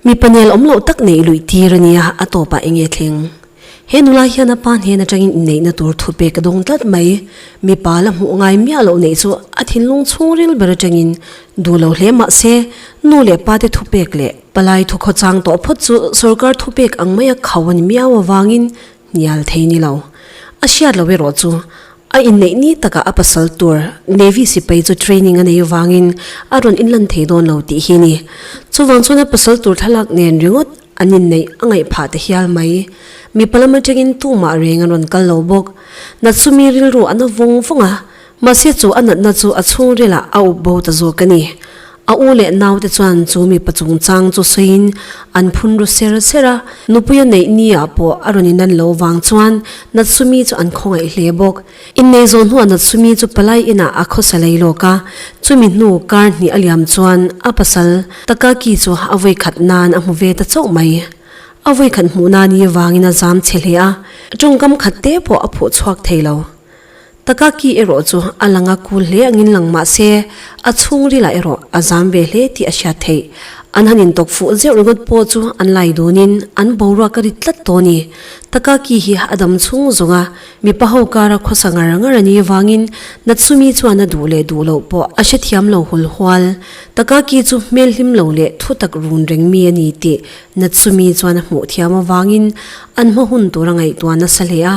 Mi panial awm loh tak neih luih tir a nia, a tawpah eng nge thleng? He nula hian a pa hnen atangin inneihna tur thupek a dawng tlat mai. Mipa la hmuh ngai miah loh neih chu a thinlung chhungril ber atangin duh lo hle mahse, nu leh pa te thupek leh palai thukhaw chang tawh phawt chu sorkar thupek ang maia khau a ni miau avangin Nial thei ni lo. A hriat lo erawh chu, a inneih ni takah a pasal tur Navy sipai chu training a nei avangin a rawn inlan thei dawn lo tih hi a ni. Chuvang chuan a pasal tur thlalak nen ringawt an inneih a ngaih phah ta hial mai. Mipa lam atangin tumah reng an rawn kal lo bawk. Natsumi rilru an a vawng vawng a. Mahse chu a natna chu a chhungrila a up bo ta zawk a ni. A u leh naute chuan chu mipa chungchang chu sawiin an phun ru ser ser a, nupuia neih nia pawh a rawn in an lo vang chuan Natsumi chu an khawngaih hle bawk. Innei zawh hnuah Natsumi chu palai inah a khawsa lei lawk a, chumi hnu kar hnih a liam chuan a pasal Takaki chu a vawikhat nan a hmu ve ta chauh mai. A vawikhat hmuh nan hi vangin a zam chhe hle a, a tawngkam khatte pawh a phuh chhuak thei lo. Takaki erawh chu a langa kul hle angin lang mahse, a chhungrila erawh a zam ve hle tih a hriat theih. An han intawk fuh zeuh ringawt pawh chu an lai dunin an boruak a rit tlat tawh a ni. Takaki hi a dam chhung zawng a, mipa ho kara khawsa ngar ngar a nih avangin Natsumi chuan a duh leh duh loh pawh a hrethiam lo hul hual. Takaki chu hmel hlim lo leh thutak run reng mi a ni tih Natsumi chuan a hmuh thiam avangin an hma hun tur a ngaihtuah nasa hle a,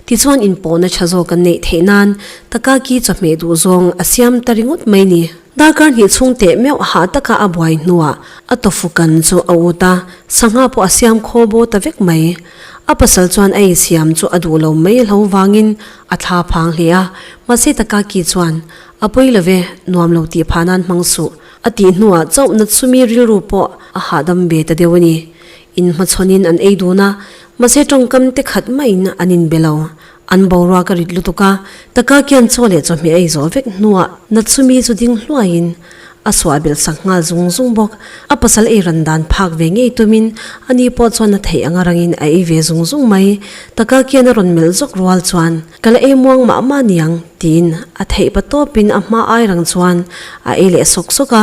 Tichuan inpawhna tha zawk an neih theih nan Takaki chawhmeh duh zawng a siam ta ringawt mai ni. Darkar hnih chhung teh meuh hah taka a buai hnuah a tawfukan chu a ut a, sangha pawh a siam khaw bo ta vek mai. A pasal chuan a insiam chu a duh lo mai hlo vangin a thla phang hle a, mahse Takaki chuan, A pawi lo ve, nuam lo tih phah nan hmang suh, a tih hnuah chauh Natsumi rilru pawh a hahdam ve ta deuh a ni. Inhmachhawnin an ei dun a, mahse tawngkam te khat maiin an in be lo. An boruak ka rit lutuk a, taka kian chaw leh chawhmeh a ei zawh vek hnuah Natsumi chu ding hluaiin a suah belh sak nghal zung zung bawk. A pasal ei ran dan phak ve ngei tumin a ni pawh chuan a theih anga rangin a ei ve zung zung mai. Taka kian a rawn melh zawk rual chuan ka la ei muang mah mah niang tiin a theih pa tawpin a hma ai rang chuan a ei leh sawk sawk a,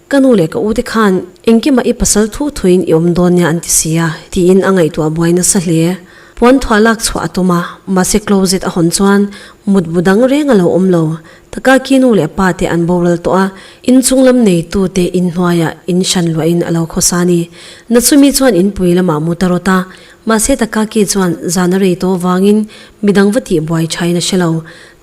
Ka nu leh ka ute khan engkimah i pasal thu thuin i awm dawn nia an ti si a, tiin a ngaihtuah buai nasa hle. Puanthuah lak chhuah a tum a, mahse closet a hawn chuan mutbu dang reng a lo awm lo. Takaki nu leh pa te an boral tawh a, inchung lam neitu te in hnuaiah in hran luah in a lo khaw sa a ni. Natsumi chuan in pui lamah mut a rawt a, mahse Takaki chuan zan a rei tawh vangin midang va tih buai tha in a hre lo.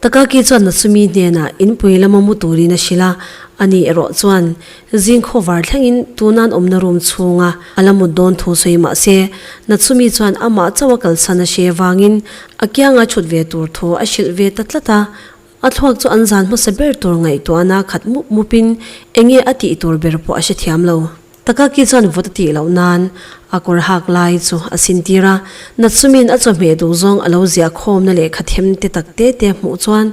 Takaki chuan Natsumi hnenah inpui lama mu turin a hrilh a, a nih erawh chuan zingkhawh var thlengin tuna an awmna room chhunga a la mut dawn thu sawi mah se, Natsumi chuan amah chauh a kalsan a hre avangin a kianga chhut ve tur thu a hrilh ve ta tlat a. A thluak chu an zan hmasa ber tur ngaihtuahna khat mup mupin enge a tih tur ber pawh a hre thiam lo. Ta Kaki chuan vawt a tih loh nan a kawr hak lai chu a sintir a, Natsumin a chawhmeh duh zawng a lo ziah khawmna leh kha them te tak te te hmuh chuan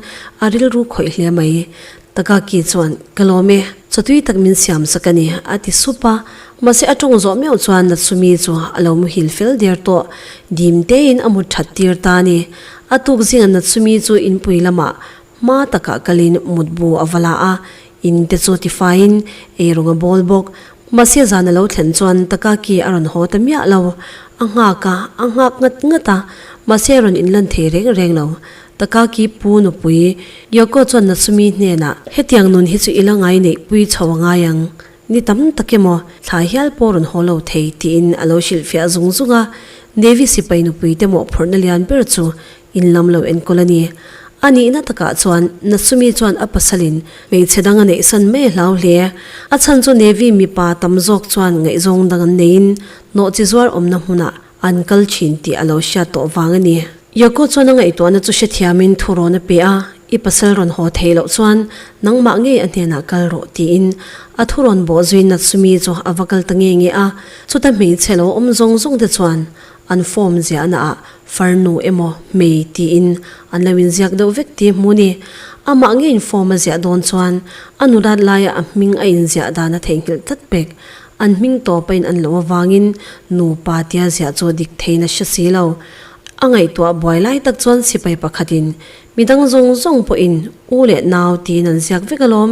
a rilru khawih hle mai. Ta Kaki chuan, Ka lawm e, chaw tui tak min siam sak a ni, a ti sup a, mahse a tawng zawh meuh chuan Natsumi chu a lo muhil fel der tawh. Dim tein a mut that tir ta a ni. A tuk zingah Natsumi chu in pui lamah Hma takah kalin mutbu a va la a, in te chu tifaiin ei rawng a bawl bawk. Mahse zan a lo thlen chuan Takaki a rawn haw ta miah lo. A nghak a, a nghak ngat ngat a, mahse a rawn in lan thei reng reng lo. Takaki pu nupui Yoko chuan Natsumi hnenah. Hetiang nun hi chu i la ngai neih pui chho a ngai ang, ni tam tak emaw thlai hial pawh rawn haw lo thei tiin a lo hrilhfiah zung zung a. Navy sipai nupui te mawhphurhna lian ber chu In lam lo enkawl a ni. A nihna takah chuan Natsumi chuan a pasalin hmeichhe dang a neih san mai hlau hle. A chhan chu Navy mipa tam zawk chuan ngaihzawng dang an neiin hnawhchi zuar awmna hmunah an kal thin tih a lo hriat tawh vang a ni. Yoko chuan a ngaihtuahna chu hre thiamin thu rawn a pe a, I pasal rawn haw thei loh chuan nangmah ngei a hnenah kal rawh tiin a thu rawn bawh zuiin Natsumi chu a va kal ta nge nge a. Chuta hmeichhe lo awm zawng zawngte chuan An form ziahna ah farnu emaw hmei tiin an lo inziak deuh vek tih hmu ni. Amah nge in form a ziah dawn chuan Anurat laia a hming a inziah dan a theihnghilh tlat bek. An hming tawpa in an loh avangin nupa tia ziah chu dik theihin a hre si lo. A ngaihtuah buai lai tak chuan sipai pakhatin, Midang zawng zawng pawhin U leh Nau tiin an ziak vek alawm.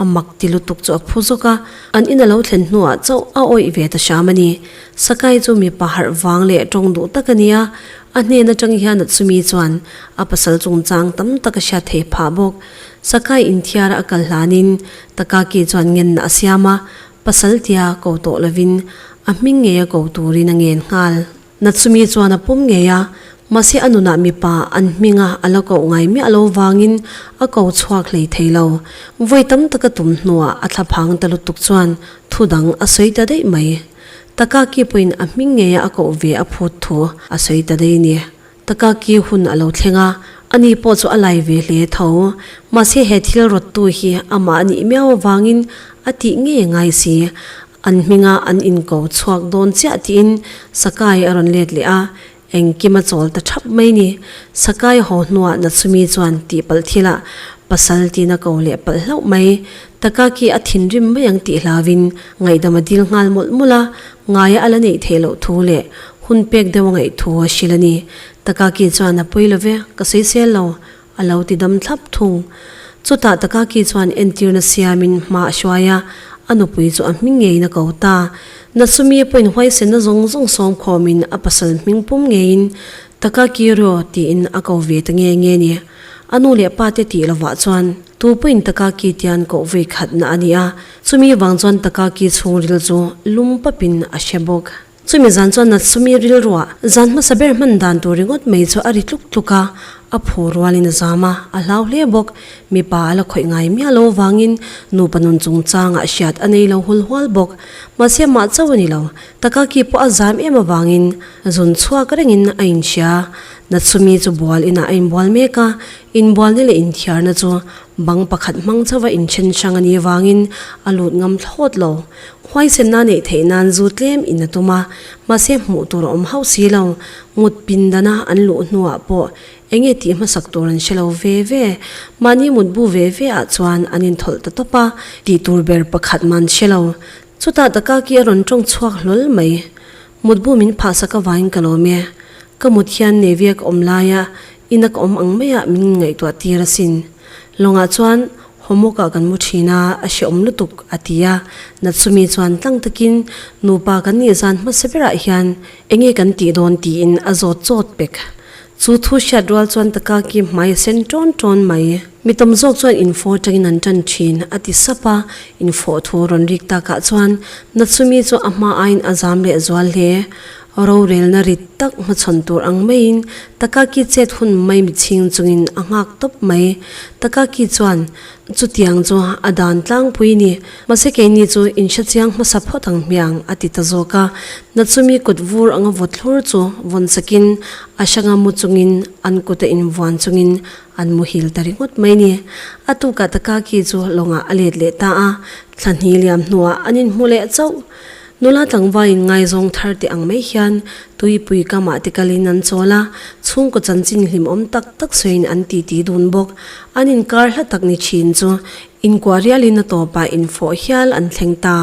A mak ti lutuk chu a phu zawk a, an in a lo thlen hnuah chauh a awih ve ta hram a ni. Sakai chu mipa harh vang leh tawng duh tak a ni a, a hnen atang hian a chumi chuan a pasal chungchang tam tak a hriat thei phah bawk. Sakai inthiara a kal hlanin Takaki chuan ngenna a siam a, pasal tia ko tawh lovin a hming ngeia ko turin a ngen nghal. Na chumi chuan a pum ngei a, mahse a nunah mipa an hminga a la koh ngai miah lo vangin a ko chhuak hlei thei lo. Vawi tam taka tum hnuah a thla phang ta lutuk chuan thu dang a sawi ta daih mai. Takaki pawhin a hming ngeia a koh ve a phut thu a sawi ta daih ni. Takaki hun a lo thleng a, ani pawh chu a lai ve hle tho. Mahse he thil rawttu hi amah a nih miau avangin a tih ngei ngai si. An hminga an inko chhuak dawn chiah tiin Sakai a rawn let leh a, Engkim a chawl ta thap mai ni. Sakai haw hnuah Natsumi chuan tihpalh thila pasal tiin a ko leh palh hlauh mai. Takaki a thinrim mai ang tih hlauin ngaihdam a dil nghal mawlh mawlh a, ngai a ala neih theih loh thu leh hun pek deuh a ngaih thu a hrilh a ni. Takaki chuan a pawi love, ka sawi sel lo, A lo ti dam thlap thung. Chutah Takaki chuan entirna siamin hma a hruai a, a nupui chu a hming ngeiin a ko ta. Natsumi a pawhin huaisenna zawng zawng sawm khawmin a pasal hming pum ngeiin, Takaki ru, tiin a ko ve ta nge nge ni. A nu leh pa te tih lovah chuan, tu pawhin Takaki tian koh vawi khatna a ni a, chumi vang chuan Takaki chhungril chu lum papin a hre bawk. Chumi zan chuan Natsumi rilruah zan hmasa ber hman dan tur ringawt mai chu a ri tluk tluk a, a phu rualin a zam a, a hlau hle bawk. Mipa a la khawih ngai miah lo vangin nupa nun chungchangah hriat a nei lo hul hual bawk. Mahse mah chauh a ni lo, Takaki pawh a zam em avangin zun chhuak rengin a inhria. Natsumi chu bual inah a inbual mek a, inbualna leh inthiarna chu bang pakhat hmang chauh a inthen hrang a nih avangin a lut ngam thlawt lo. Huaisenna neih theih nan zu tlem in a tum a, mahse hmuh tur a awm hauh si lo. Mut pindana an luh hnuah pawh eng nge tih hmasak tur an hre lo ve ve. Mahni mut bu ve ve ah chuan an inthawl ta tawp a, tih tur ber pakhat man hre lo. Chutah Dakaki a rawn tawng chhuak hlawl mai. Mut bu min phah sak avangin ka lawm e. Ka mut hian Navy-a ka awm laia ina ka awm ang maia min ngaihtuah tir asin. Lawngah chuan, Homework-ah kan mu thin a, a hrehawm lutuk, a ti a. Natsumi chuan tlang takin, Nupa kan nih zan hmasa berah hian enge kan tih dawn tiin a zawt zawt pek. Chu thu hriat rual chuan Takaki hmai a sen tawn tawn mai. Mi tam zawk chuan info atangin an tan thin, a ti sap a. Info thu rawn rik takah chuan Natsumi chu a hma aiin a zam leh zual hle. Rorelna rit tak hmachhawn tur ang maiin Takaki chet hun mai mi chhing chungin a nghak tawp mai. Takaki chuan, Chutiang chu a dan tlangpui a ni. Mahse keini chu in hre chiang hmasa phawt ang hmiah ang, a ti ta zawk a. Natsumi kut vur anga vawt thlur chu vawn sakin a hranga mu chungin an kuta in vuan chungin an mu hil ta ringawt mai a ni. A tukah Takaki chu lawngah a let leh ta a, thla hni liam hnuah an inhmu leh chauh. Nula tlangvain ngaizawng thar teh ang mai hian tuipui kamah te kalin an chawl a, chhungkaw chanchin hlimawm tak tak sawiin an titi dun bawk. An inkar hla tak ni thin chu inkuah rialin a tawpah infawh hial an thleng ta.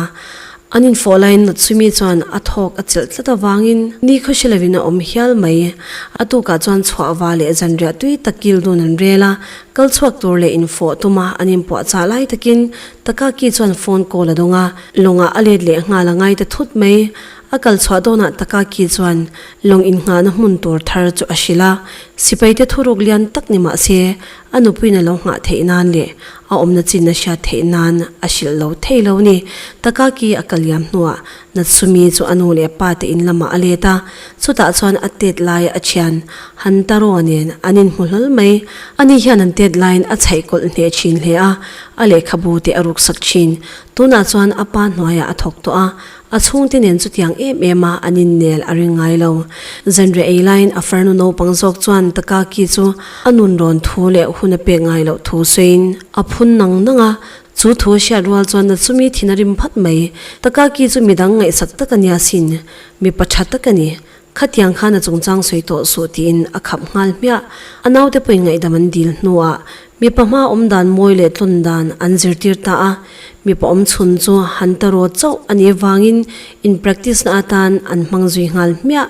An infawh laiin Laksumi chuan a thawk a chelh tlat avangin ni khaw hre lovin a awm hial mai. A tukah chuan chhuahva leh zanriah tui tak kil dun an rel a, kal chhuak tur leh infawh tuma an inpuahchah lai takin Takaki chuan phone call a dawng a, Lawngah a let leh nghal a ngai ta thut mai. A kal chhuah dawnah Takaki chuan Lawng inngahna hmun tur thar chu a hrilh a. Sipaite thuruk lian tak ni mah se, a nupuiin a lo nghah theih nan leh a awmna chinna hria theih nan a hrilh lo thei lo a ni. Takaki a kal liam hnuah Natsumi chu a nu leh pa te in lamah a let a, chutah chuan a tet lai a thian. Han Taraw nen an inhmu hlawl mai. A ni hian an tet laiin a chhaih kawlh hneh thin hle a, a lehkhabu te a ruksak thin. Tunah chuan a pa hnuaiah a thawk tawh a, a chhungte nen chutiang em em a an innel a ring ngai lo. Zanriah ei laiin a farnu naupang zawk chuan Takaki chu a nunrawn thu leh hun a pek ngai loh thu sawiin a phun nang nang a, Chu thu a hriat rual chuan na chumi thin a rim phat mai. Takaki chu midang ngaihsak tak a nia sin, mi pa tha tak a ni. Khatiang khan a chungchang sawi tawh suh tiin a khap nghal hmiah. A naute pawhin ngaihdam an dil hnuah mipa hma awm dan mawi leh tlawn dan an zirtir ta a. Mipa awm chhun chu han ta rawt chauh a nih vangin in practice na atan an hmang zui nghal hmiah.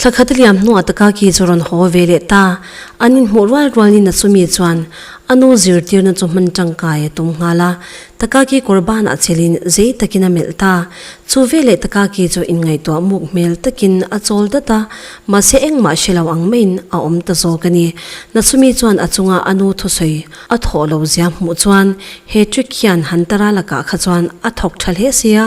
Thla khat a liam hnungah Takaki chu rawn haw ve leh ta, an inhmuh rual rual nina chumi chuan a nu zirtirna chu hman tangkai a tum nghal a, Takaki kawr banah chilhin zei takin a melh ta. Chu veleh Takaki chu inngaihtuah muk hmel takin a chawl dat a, mahse engmah hre lo ang maiin a awm ta zawk a ni. Natsumi chuan a chunga a nu thusawi a thawh lo zia hmuh chuan he trick hian Hantara lakah kha chuan a thawk tha hle sia,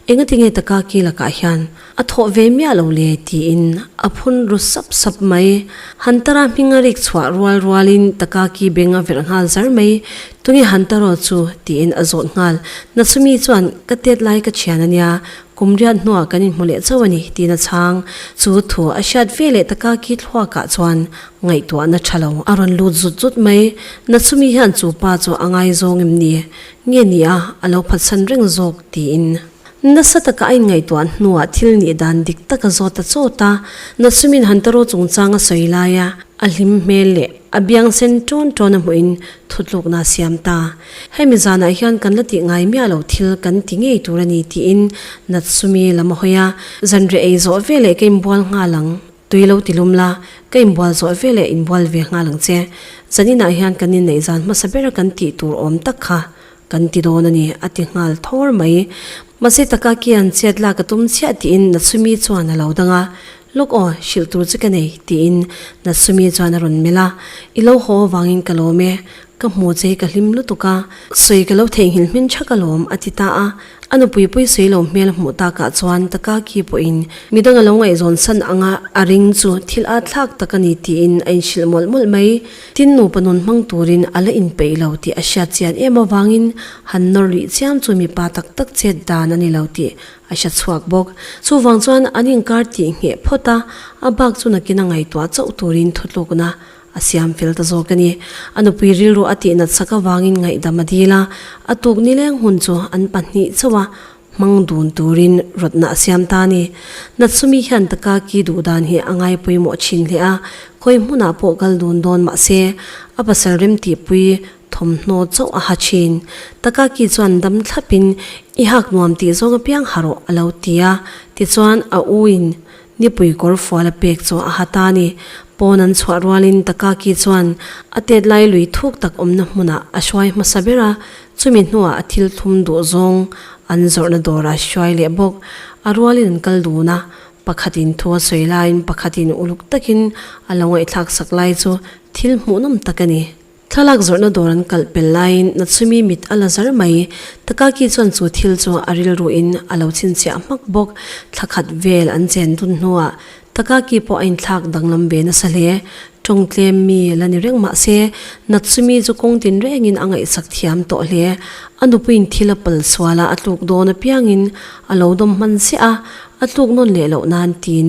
engatinge Takaki lakah hian A thawh ve miah lo le tiin a phun ru sap sap mai. Hunter a hming a rik chhuah rual rual in Takaki beng a verh nghal zar mai. Tunge Hunter aw chu? tiin a zawt nghal. Na chumi chuan ka tet lai ka thian a nia, kum riat hnuah kan inhmu leh chauh a ni, tiin a chhang. Chu thu a hriat ve leh Takaki thluak ah chuan ngaihtuah na tha lo. A rawn lut zut zut mai. Na chumi hian chu pa chu a ngaizawng em ni? Nge nia a lo phatsan reng zawk? tiin Nasa taka a inngaihtuah hnuah thil nih dan dik tak a zawt ta chawt a, Natsumin Hantaro chungchang a sawi lai a, a hlim hmel leh a biang sen tawn tawn a hmuhin thutlukna a siam ta. Hemi zanah hian kan la tih ngai miah loh thil kan ti ngei tur a ni, tiin Natsumi lam a hawi a, Zanriah ei zawh veleh ka inbual nghal ang, Tui lo ti lum la, ka inbual zawh ve leh inbual ve nghal ang che. Zaninah hian kan inneih zan hmasa bera kan tih tur awm tak kha kan ti dawn a ni, a ti nghal thawr mai. Mahse taka kian chhiat lak a tum chiah tiin Natsumi chuan a lo dang a, Lawk aw, hrilh tur che ka nei, tiin Natsumi chuan a rawn melh a, I lo haw avangin ka lawm e. Ka hmu che ka hlim lutuk a, sawi ka lo theihnghilh hming tha ka lawm, a ti ta a. A nupui puisawi lo hmel hmuh takah chuan Takaki pawhin midang a lo ngaihzawn san ang a, a ring chu thil a thlak tak a ni tiin a inhrilh mawlh mawlh mai. Tin, nupa nun hmang turin a la inpeih lo tih a hriat chian em avangin han nawr rih chiam chu mipa tak tak chet dan a ni lo tih a hre chhuak bawk. Chuvang chuan an inkar tih ngheh phawt a, a bak chu nakin a ngaihtuah chauh turin thutlukna A siam fel ta zawk a ni. A nupui rilru a tih natsak avangin ngaihdam a dil a, a tuk nileng hun chu an pahnih chauh a hmang dun turin rawtna a siam ta a ni. Natsumi hian Takaki duh dan hi a ngai pawimawh thin hle a, khawi hmunah pawh kal dun dawn mah se, a pasal remtihpui thawmhnaw chauh a ha thin. Takaki chuan dam thlapin, I hak nuam tih zawng apiang ha rawh, a lo ti a. Tichuan a uin Nipui kawr fual a pek chu a ha ta a ni. Pawn an chhuah rualin Takaki chuan a tet lai lui thuk tak awmna hmunah a hruai hmasa ber a, chumi hnuah a thil thum duh zawng an zawrhna dawrah a hruai leh bawk. A rualin an kal dun a, pakhatin thu a sawi laiin pakhatin uluk takin a lo ngaihthlak sak lai chu thil hmuhnawm tak a ni. Thlalak zawrhna dawr an kalh pel laiin Natsumi mit a la zar mai. Takaki chuan chu thil chu a rilruin a lo chhinchhiah hmak bawk. Thla khat vel an chen dun hnuah Takaki pawh a inthlak danglam ve nasa hle. Tawng tlem mi la ni reng mah se, Natsumi chu kawng tin rengin a ngaihsak thiam tawh hle. A nupuiin thil a pal sual a, a tluk dawn apiangin a lo dawm hman ziah a, a tluk nawn leh loh nan tiin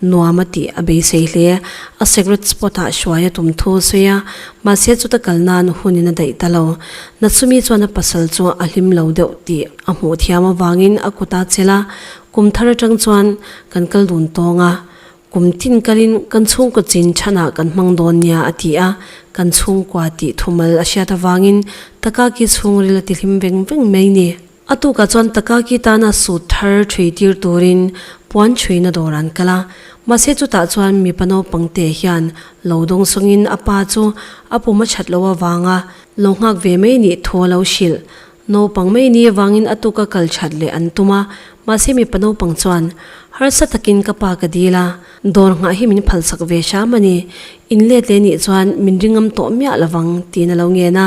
nuam a tih a beisei hle. A secret spot ah hruai a tum thu a sawi a, mahse chuta kal nan hun in a daih ta lo. Natsumi chuan a pasal chu a hlim lo deuh tih a hmuh thiam avangin a kut a chel a, kum thar atang chuan kan kal dun tawng a, kum tin kal in kan chhungkaw chin chhan ah kan hmang dawn nia a ti a, kan chhungkua tih thumal a hriat avangin Takaki chhungril a ti hlim veng veng mai ni. A tukah chuan Takaki tana sut thar thui tir turin puan chhuina dawr an kal a. Mahse chutah chuan mipa naupang te hian lo dawng sawngin a pa chu a pum a that loh avanga lo nghak ve mai nih thu a lo hrilh. Naupang mai ni avangin a tuk a kal that leh an tum a. Mahse mipa naupang chuan, Harsa takin ka pa ka dil a, Dawr nghah hi min phalsak ve hram a ni. In let leh nih chuan min ri ngam tawh miah lo vang tiin a lo ngen a.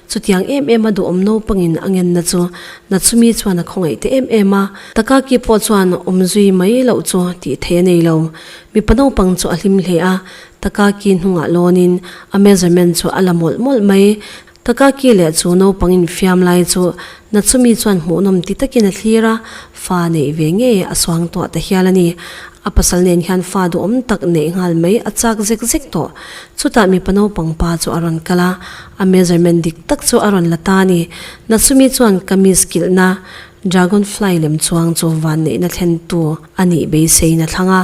Chutiang em em a duhawm naupangin a ngenna chu na chumi chuan a khawngaih teh em em a. Takaki pawh chuan awm zui mai loh chu tih theih a nei lo. Mipa naupang chu a hlim hle a, Takaki hnungah lawnin a measurement chu a la mawlh mawlh mai. Ka kaki leh chu naupang infiam lai chu na chumi chuan hmuhnawm ti takin a thlir a, fa neih ve nge a suang tawh ta hial a ni. A pasal nen hian fa duhawm tak neih nghal mai a chak zek zek tawh. Chutah mipa naupang pa chu a rawn kal a, a measurement dik tak chu a rawn la ta a ni. Na chumi chuan kamis kilhna Dragonfly lem chuang chu vanneihna thlentu a nih beiseina thlanga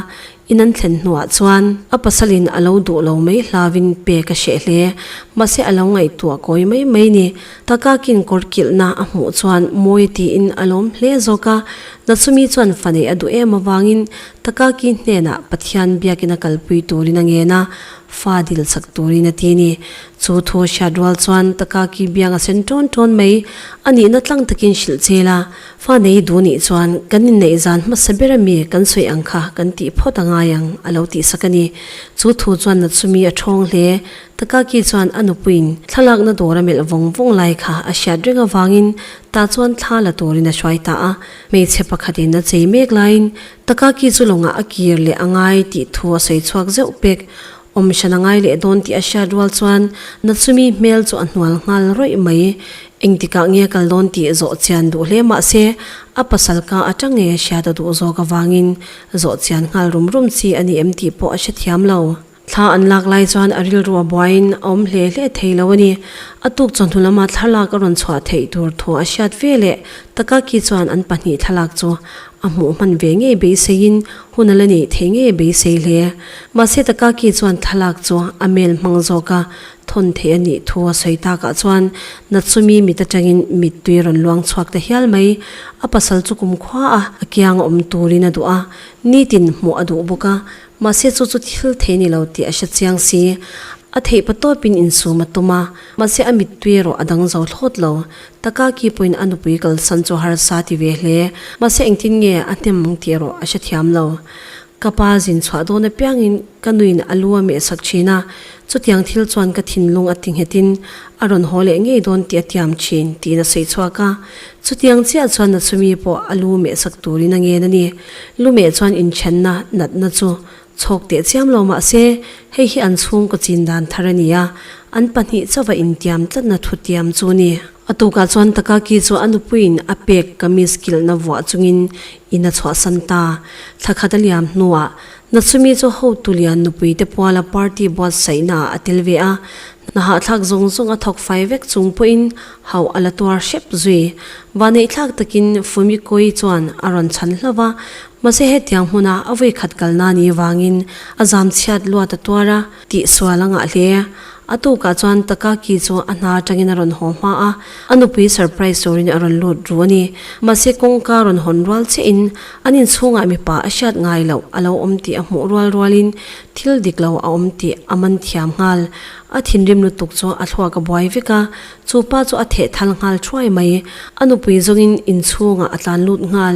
In an thlen hnuah chuan a pasalin a lo duh lo mai hlauin pe ka hreh hle. Mahse a lo ngaihtuah kawi mai mai ni. Ka kakin kawr kilhna a hmuh chuan mawi tiin a lawm hle zawk a. Nachumi chuan faneih a duh em avangin ka kaki hnenah Pathian biakin a kalpui turin a ngen a, fa dil chak turin a ti ni. Chu thu a hriat rual chuan ka kaki biang a sen tawn tawn mai. A nihna tlang takin hrilh chel a. Fa nei duh nih chuan kan inneih zan hmasa ber ami kan sawi ang kha kan tih phawt a ngai ang a lo tih sak a ni. Chu thu chuan na chumi a thawng hle. Takaki chuan a nupuiin thlalakna dawr a melh vawng vawng lai kha a hriat reng avangin tah chuan thla la turin a hruai ta a. Hmeichhe pakhatin a chei mek laiin Takaki chu lawngah a kir leh a ngai tih thu a sawi chhuak zeuh pek. Awmshan a ngai leh dawn tih a hriat rual chuan na chumi hmel chu a hnual nghal rawih mai. Engtikah nge kal dawn tih zawh chian duh hle mahse a pasalka atange hria ta duh zawk avangin zawh chian nghal rum rum chi a ni em tih pawh a hre thiam lo. Thla an lak lai chuan a rilru a buaiin a awm hle hle thei lo a ni. A tuk chaw hnu lama thlarlak a rawn chhuah theih tur thu a hriat ve leh Takaki chuan an pahnih thlalak chu a hmuh hman ve ngei beiseiin Hun a la nih theih ngei a beisei hle. Mahse Takaki chuan thlalak chu a mel hmang zawk a, thawn theih a nih thu a sawi tak ah chuan Natsumi mit atangin mittui rawn luang chhuak ta hial mai. A pasal chu kum khua a, a kiang a awm turin a duh a, nitin hmuh a duh bawk a. Mahse chu chu thil thei ni lo tih a hre chiang si. A theih pa tawpin insum a tum a, mahse a mittui erawh a dang zo thlawt lo. Taka ki pawhin a nupui kalsan chu harsa ti ve hle. Mahse engtin nge a hnem ang tih erawh a hre thiam lo. Ka pa zin chhuah dawn apiangin ka nuin a lu a mehsak thin a, chutiang thil chuan ka thinlung a ti nghetin a rawn haw leh ngei dawn tih a tiam thin tiin a sawi chhuak a. Chutiang chiah chuan Natsumi pawh a lu mehsak turin a ngen a ni. Lu meh chuan inthianna, natna chu chhawk teh chiam lo mah se hei hi an chhungkaw chin dan thar a ni a, an pahnih chauha intiam tlatna thutiam chu ni. A tukah chuan Takaki chu a nupuiin a pek kamis kilhna vuah chungin in a chhuahsan ta. Thla khat a liam hnuah, Natsumi chu hotu lian nupui te puala party buatsaihnaah a tel ve a, hnahahthlak zawng zawng a thawk fai vek chung pawhin hauh a la tuar hrep zui. Vaneih thlak takin Fumikoi chuan a rawn chhan hlauh a, Mahse hetiang hmuna a vawi khat kal na ni vangin a zam chhiat luat a tuar a, tih sual a ngah hle. A tukah chuan Takaki chu a hna atangin a rawn haw hma a, a nupui surprise turin a rawn lut ru a ni. Mahse kawngka rawn hawn rual che in an inchhungah mipa a hriat ngai loh a lo awm tih a hmuh rual rualin thil dik lo a awm tih a man thiam nghal. A thinrim lutuk chu a thluak a buai vek a, chu pa chu a thehthal nghal thuai mai. A nupui zawngin inchhungah a tlan lut nghal,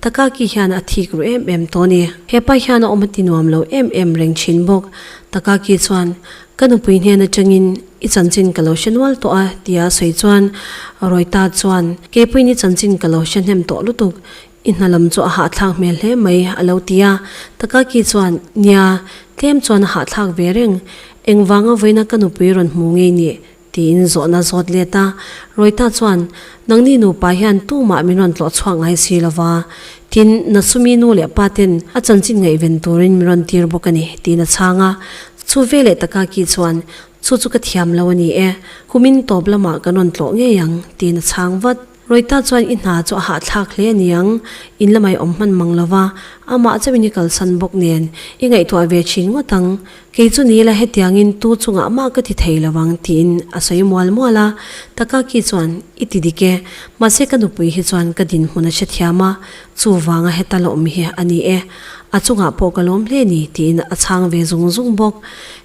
Takaki hian a thik ru em em tawh a ni. Hepa hian a awm a ti nuam lo em em reng thin bawk. Takaki chuan, Ka nupui hnen atangin i chanchin ka lo hre nual tawh a ti a sawi chuan Roita chuan, Keipuiin i chanchin ka lo hrehnem tawh lutuk. I hna lam chu a hahthlak hmel hle mai a lo ti a. Takaki chuan, Nia, tlem chuan a hahthlak ve reng. Engvanga vawiina ka nupui rawn hmu ngei nih? Tiin zawhna a zawt let a, Rawita chuan, Nangni nupa hian tumah min rawn tlawh chhuak ngai si lo va, tin na sumi nu leh pa ten a chanchin ngaihven turin min rawn tir bawk a ni, tiin a chhang a. Chu ve leh taka Ki chuan, Chu chu ka thiam lo a ni e, kumin tawp lamah kan rawn tlawh ngei ang, tiin a chhang vat. Roita chuan i hna chu a hahthlak hle a ni ang, in lamah i awm hman mang lo va, amah chauhin i kalsan bawk nen i ngaihtuah ve thin ngawt ang. Kei chu ni ila hetiangin tu chungah mah ka ti thei lo ang, tiin a sawi mual mual a. Takaki chuan, I ti dik e. Mahse ka nupui hi chuan ka dinhmun a chhe thiam a. Chuvanga heta lawmmi hi a ni e, a chungah pawh ka lawm hle ni, tiin a chhang ve zung zung bawk.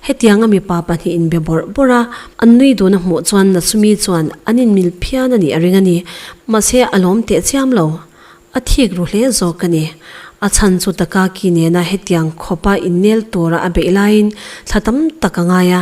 Hetianga mipa pahnihin be bawrh bawrh a, an nui dun a hmuh chuan Natsumi chuan an inmil phian a nih a ring a ni. Mahse a lawm teh chiam lo, a thik ru hle zawk ka ni. A chhan chu Takaaki nena hetiang khawpa innel tura a beih laiin thla tam tak a ngai a.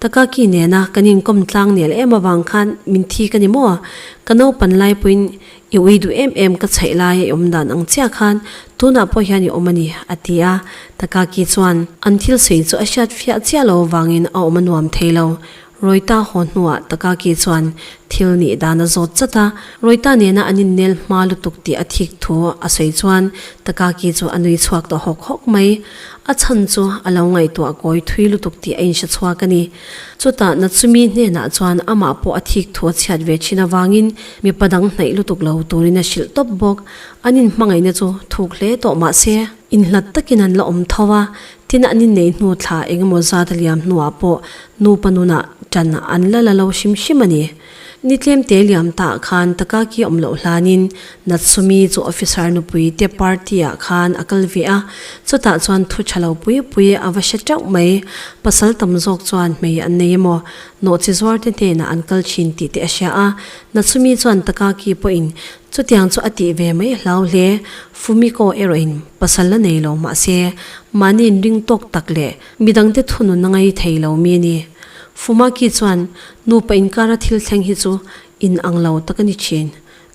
Ka kaki nena kan inkawm tlang nel em avang khan min thi ka ni maw? Ka naupan lai pawhin i ui duh em em ka chhaih laia i awm dan ang chiah khan tunah pawh hian i awm a ni, a ti a. Ta Kaki chuan an thil sawi chu a hriat fiah chiah lo avangin a awm a nuam thei lo. Rawita haw hnuah ta Kaki chuan thil nih dan a zawt chat a, Rawita nena an innel hma lutuk tih a thik thu a sawi chuan ta Kaki chu a nui chhuak ta hawk hawk mai. A chhan chu a lo ngaihtuah kawi thui lutuk tih a inhre chhuak a ni. Chutah Natsumi hnenah chuan amah pawh a thik thu a chhiat ve thin avangin mipa dang hnaih lutuk lo turin a hrilh tawp bawk. An inhmangaihna chu thuk hle tawh mahse, inhlat takin an la awm tho a, tin an innei hnu thla engemaw zat a liam hnuah pawh nupa nunah tan an la la lo hrim hrim a ni. Ni tlemte liam ta khan taka ki awm loh hlan in Natsumi chu officer nupui te party ah khan a kal ve a, chutah chuan thu tha lo pui pui a va hre teuh mai. Pasal tam zawk chuan hmei an nei emaw, nawhchi zuar te hnen ah an kal thin tih te a hria a, Natsumi chuan taka ki pawh in chutiang chu a tih ve mai hlau hle, Fumiko erawh in pasal la nei lo mah se, mahni in ring tawk tak leh Midangte thunun a ngei thei lo mi a ni. Fumaki chuan, Nupa inkara thil thleng hi chu in ang lo tak a ni thin.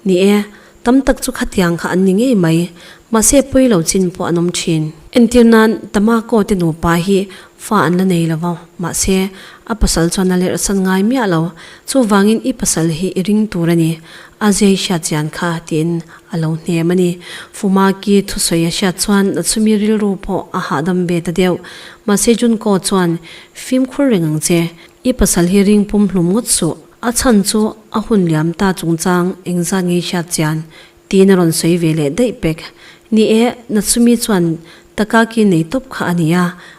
Ni e, tam tak chu khatiang kha an ni ngei mai. Mahse pawi lo chin pawh an awm thin. Entir nan, Tamako te nupa hi fa an la nei lo va, mahse a pasal chuan a lerhsan ngai miah lo. Chuvangin i pasal hi i ring tur a ni. A zei hriat chian kha, tiin A lo hnem a ni. Fumaki thusawi a hriat chuan a chumi rilru pawh a hahdam ve ta deuh. Mahse Junko chuan, Fimkhur reng ang che. I pasal hi ring pum hlum ngawt suh. A chhan chu a hun liam ta chungchang engzat ngei hriat chian? tiin a rawn sawi ve leh daih pek. Ni e, na chumi chuan Takaki nei tawp kha a ni a,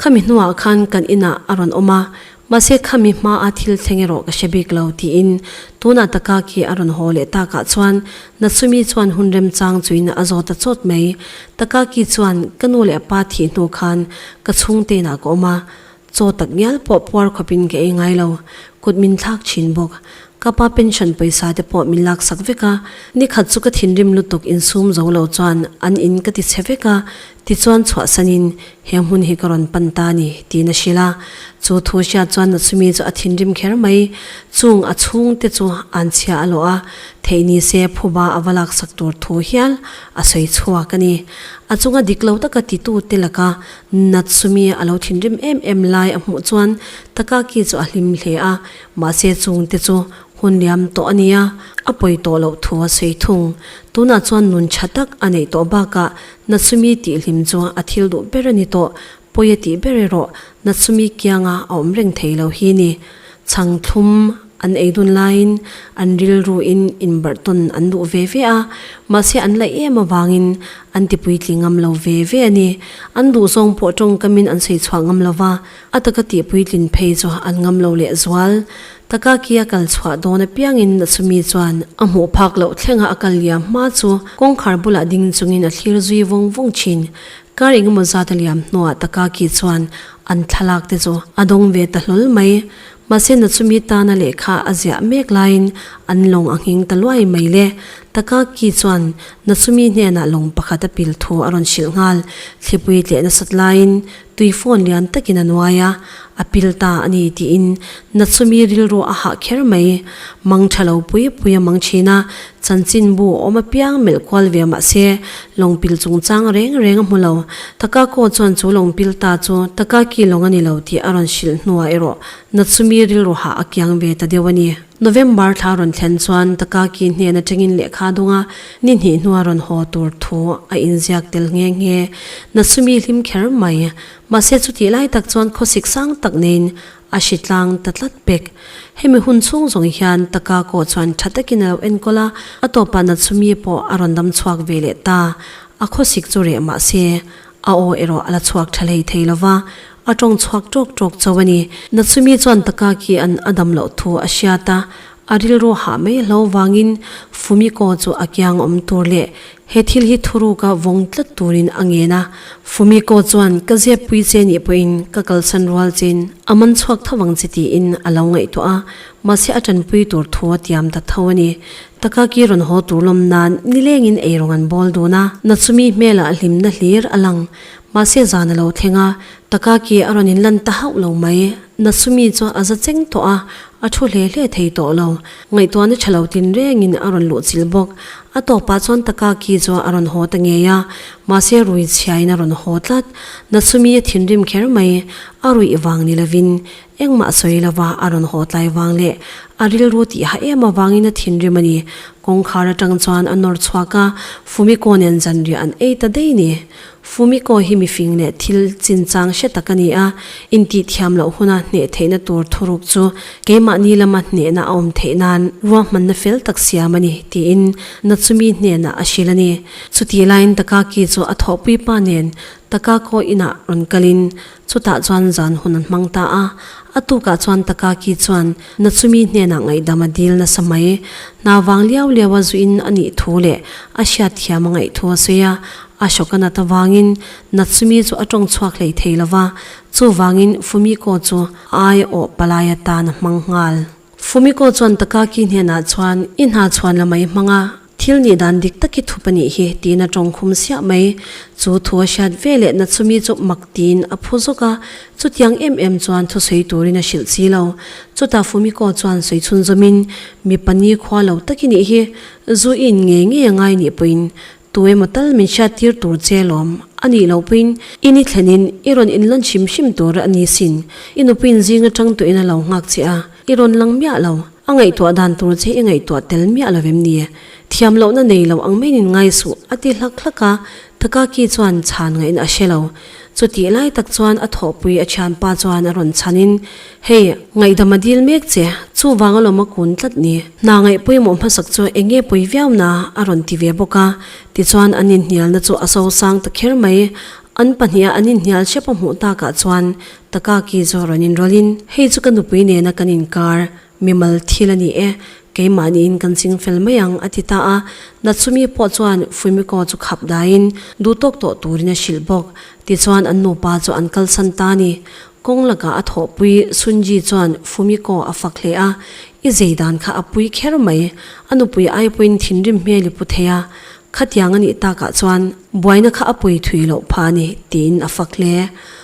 Khami hnuah khan kan inah a rawn awm a, mahse khami hmaa thil thleng erawh ka hre bik lo, tiin tunah Takaki a rawn haw leh takah chuan Natsumi chuan hun remchang chuina a zawt ta chawt mai. Takaki chuan, Ka nu leh a pa thih hnu khan ka chhungteinah ka awm a, chaw tak ngial pawh puar khawpin ka ei ngai lo, kut min thlak thin bawk. Ka pa pension pawisa te pawh min laksak vek a, nikhat chu ka thinrim lutuk insum zo lo chuan an in ka tichhe vek a, Tichuan chhuah sanin, He hmun hi ka rawn pan ta a ni, tiin a hrilh a. Chu thu hriat chuan Natsumi chu a thinrim kher mai. Chung a chhung te chu an chhia a lawh a, theih ni se phuba a va laksak tur thu hial a sawi chhuak a ni. A chunga dik lo taka titu te laka Natsumi a lo thinrim em em lai a hmuh chuan Takaki chu a hlim hle a, mahse chung te chu hun liam tawh a nia, a pawi tawh loh thu a sawi thung. Tunah chuan nun tha tak a neih tawh bakah Natsumi tih hlim chuan a thil duh ber a ni tawh, pawi a tih ber erawh Natsumi kianga a awm reng thei lo hi ni. Chhang thlum an ei dun laiin an rilruin inbarh tawn an duh ve ve a, mahse an laih em avangin an tipuitling ngam lo ve ve a ni. An duh zawng pawh tawngkamin an sawi chhuah ngam lo va. A taka tih puitlin phei chu an ngam lo leh zual. Taka kia kal chhuah dawn apiangin a chumi chuan a hmuh phak loh thlenga a kal liam hma chu kawngkhar bulah ding chungin a thlir zui vawng vawng thin. Kar engemaw zata liam hnuah Taka ki chuan an thlalak te chu a dawng ve ta hlawl mai. Mahse Nachumi tana lehkha a ziah mek laiin an lawng a ngheng ta luai mai le. Taka ki chuan Nachumi hnenah lawng pakhat a pil thu a rawn hrilh nghal. Thlipui tleh nasat laiin Tui phone lian takin a nuai a, a pil ta a ni tiin na chumi rilru a hah kher mai. Mangṭha lo pui pui a mang ṭhin a, chanchin bu a awm apiang melh kual ve mah se, lawngpil chungchang reng reng a hmu lo. Takako chuan chu lawngpil ta chu Takaki lawng a ni lo tih a rawn hrilh hnuah erawh na chumi rilru hah a kiang ve ta deuh a ni. November thla rawn thlen chuan ka kaki hnen atangin lehkha dawnga ni hnih hnua rawn haw tur thu a inziak tel nghe nghe. Na sumi hlim kher mai. Mahse chutih lai tak chuan khawsik sang tak neiin a hri tlang ta tlat bek. Hemi hun chhung zawng hian ta kakawh chuan tha takin a lo enkawl a, a tawpah na sumi pawh a rawn dam chhuak ve leh ta. A khawsik chu reh mahse, A aw erawh a la chhuak tha lei thei lo va, a tawng chhuak tawk tawk cho a ni. Na chumi chuan taka khi an a dam loh thu a hriat a, a rilru hah mai hlo vangin Fumiko chu a kiang awm tur leh he thil hi thuruka vawng tlat turin a ngen a. Fumiko chuan ka ziapui che nih pawhin ka kalsan rual chin a man chhuak tho ang chi tiin a lo ngaihtuah a, mahse a tanpui tur thu a tiam ta tho a ni. Taka ki rawn haw tur lawm nan nilengin ei rawng an bawl dun a, Natsumi hmel ah hlimna hlir a lang. Mahse zan a lo thleng a, Taka ki a rawn in lan ta hauh lo mai. Natsumi chu a za cheng tawh a, a thu hle hle thei tawh lo. Ngaihtuahna tha lo tin rengin a rawn luh chilh bawk. A tawk pah chuan Taka ki chu a rawn haw ta ngei a, mahse rui chhiain a rawn haw tlat. Natsumi a thinrim kher mai, a ruih vang ni lovin Engmah sawi lova a rawn haw tlai vang leh a rilru tih hah em avangin a thinrim a ni. Kawngkhar atang chuan a nawr chhuak a, Fumiko nen zanriah an ei ta daih ni. Fumiko hi mifing leh thil chinchang hre tak a ni a, intihthiam loh huna hneh theihna tur thuruk chu keimahni lama hnehna a awm theih nan ruahmanna fel tak siam a ni, tiin Natsumi hnenah a hrilh a ni. Chutih laiin Takaki chu a thawhpui pa nen Takako inah rawn kalin Chutah chuan zan hun an hmang ta a. A tukah chuan Takaki chuan, Na chumi hnenah ngaihdam a dil nasa mai. Hna vang liau liau a zuhin a nih thu leh a hriat thiam a ngaih thu a sawi a. Ashoka nat avangin Natsumi chu a tawng chhuak hlei thei lo va. Chuvangin Fumiko chu ai awh palai atan a hmang nghal. Fumiko chuan Takaki hnenah chuan, I hna chhuan lam a i hmang a. Thil nih dan dik tak i thup a nih hi, tiin a tawng khum siah mai. Chu thu a hriat ve leh na chumi chu mak tiin a phu zawk a, chutiang em em chuan thusawi turin a hrilh si lo. Chutah Fumiko chuan sawi chhunzawmin, Mi pahnih khua lo tak i nih hi, Zu i'n ngei ngei a ngai nih pawhin tu emaw tal min hriat tir tur che lawm. A nih loh pawhin i ni thlenin i rawn inlawnh hrim hrim tur a ni sin. I nupui'n zing atang tuihin a lo nghak che a. I rawn lang miah lo. A ngaihtuah dan tur che i ngaihtuah tel miah lo em ni e? Thiam lohna nei lo ang maiin ngai suh, a ti hlak hlak a. Takaki chuan chhan ngahin a hre lo. Chutih lai tak chuan a thawhpui a thianpa chuan a rawn chhan in, Hei, ngaihdam a dil mek che, chuvanga lawm a kun tlat ni. Hna ngaih pawimawh hmasak chu eng nge pawi viau na? a rawn ti ve bawk a. Tichuan an inhnialna chu a so sang ta kher mai. An pahnih a an inhnial hrep a hmuh takah chuan Taka ki zawh rawn in rawlh in, Hei chu ka nupui nena kan inkar mimal thil a ni e, keimahniin kan ching fel mai ang, a ti ta a. Natsumi pawh chuan Fumiko chu khap daiin duh tawk tawh turin a hrilh bawk. Tichuan an nupa chu an kalsan ta a ni. Kawng lakah a thawhpui Sunji chuan Fumiko a fak hle a, I zeidan kha a pui kher mai. A nupui aipuiin thinrim hmel i pu thei a, khatiang a nih takah chuan buaina kha a pui thui loh phah a ni, tiin a fak hle.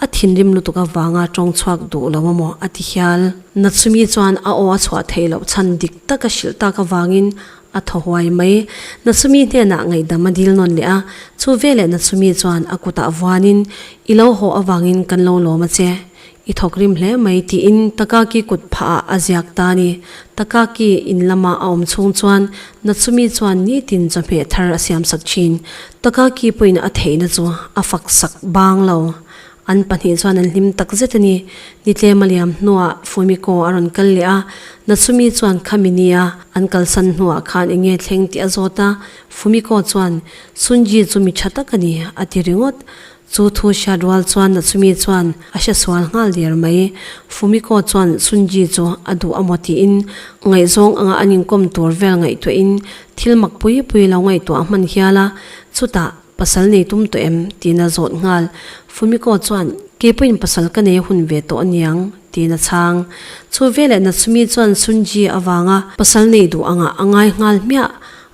A thinrim lutuk avanga tawng chhuak duh lo maw? a ti hial. Natsumi chuan a aw a chhuah theih loh chhan dik tak a hrilh tak avangin a thaw huai mai. Natsumi hnenah ngaihdam a dil nawn leh a, chu veleh Natsumi chuan a kutah vuanin, I lo haw avangin kan lo lawm a che, i thawk rim hle mai, tiin Takaki kut phahah a ziak ta a ni. Takaki in lamah a awm chhung chuan Natsumi chuan nitin chawhmeh thar a siamsak thin. Taka ki pawhin a theihna chu a fak sak bang lo. An pahnih chuan an hlim tak zet a ni. Ni tlema liam hnuah Fumiko a rawn kal leh a, Natsumi chuan khami nia an kalsan hnuah khan eng nge thleng tih a zawt a. Fumiko chuan, Sunji chu mi tha tak a ni, a ti ringawt. Chu thu hriat rual chuan a chumi chuan a hre sual nghal der mai. Fumiko chuan Sunji chu a duh a maw tiin ngaihzawng anga an inkawm tur vel ngaihtuahin thil mak pui pui lo ngaihtuah a hman hial a, chutah pasal nei tum tawh em? tiin a zawt nghal. Fumiko chuan Kei pawhin pasal ka nei hun ve tawh aniang tiin a chhang. Chu veleh Natsumi chuan Sunji avanga pasal nei duh angah a ngai nghal hmiah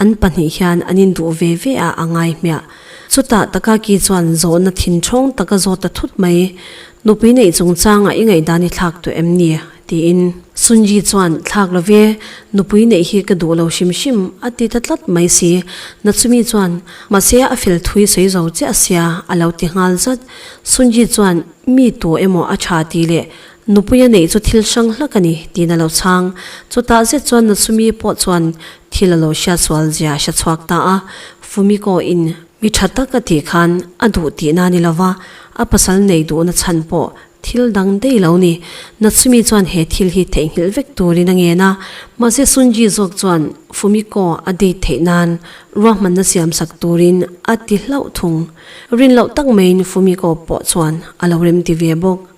An pahnih hian an induh ve ve a a ngaihmiah. Chutah Takaki chuan zawhna thin thawng taka zawt ta thut mai. Nupi neih chungchangah i ngaihdan i thlak tawh em ni? tiin Sunyi chuan, Thlak lo ve, nupui neih hi ka duh lo hrim hrim, a ti ta tlat mai si. Natsumi chuan, Mahse a fel thui sawi zo chiah sia, a lo ti nghal zat. Sunyi chuan, Mi tu emaw a tha ti leh Nupuia neih chu thil hrang hlak a ni tiin a lo chhang. Chutah zet chuan Natsumi pawh chuan thil a lo hriat sual zia a hre chhuak ta a. Fumiko in mi tha tak a tih khan a duh tihna a ni lo va, a pasal neih duhna chhan pawh thil dang daih lo ni. Natsumi chuan he thil hi theihnghilh vek turin a ngen a, mahse Sunji zawk chuan Fumiko a date theih nan ruahmanna siam sak turin a ti hlauh thung. Rin loh tak maiin Fumiko pawh chuan a lo remti ve bawk.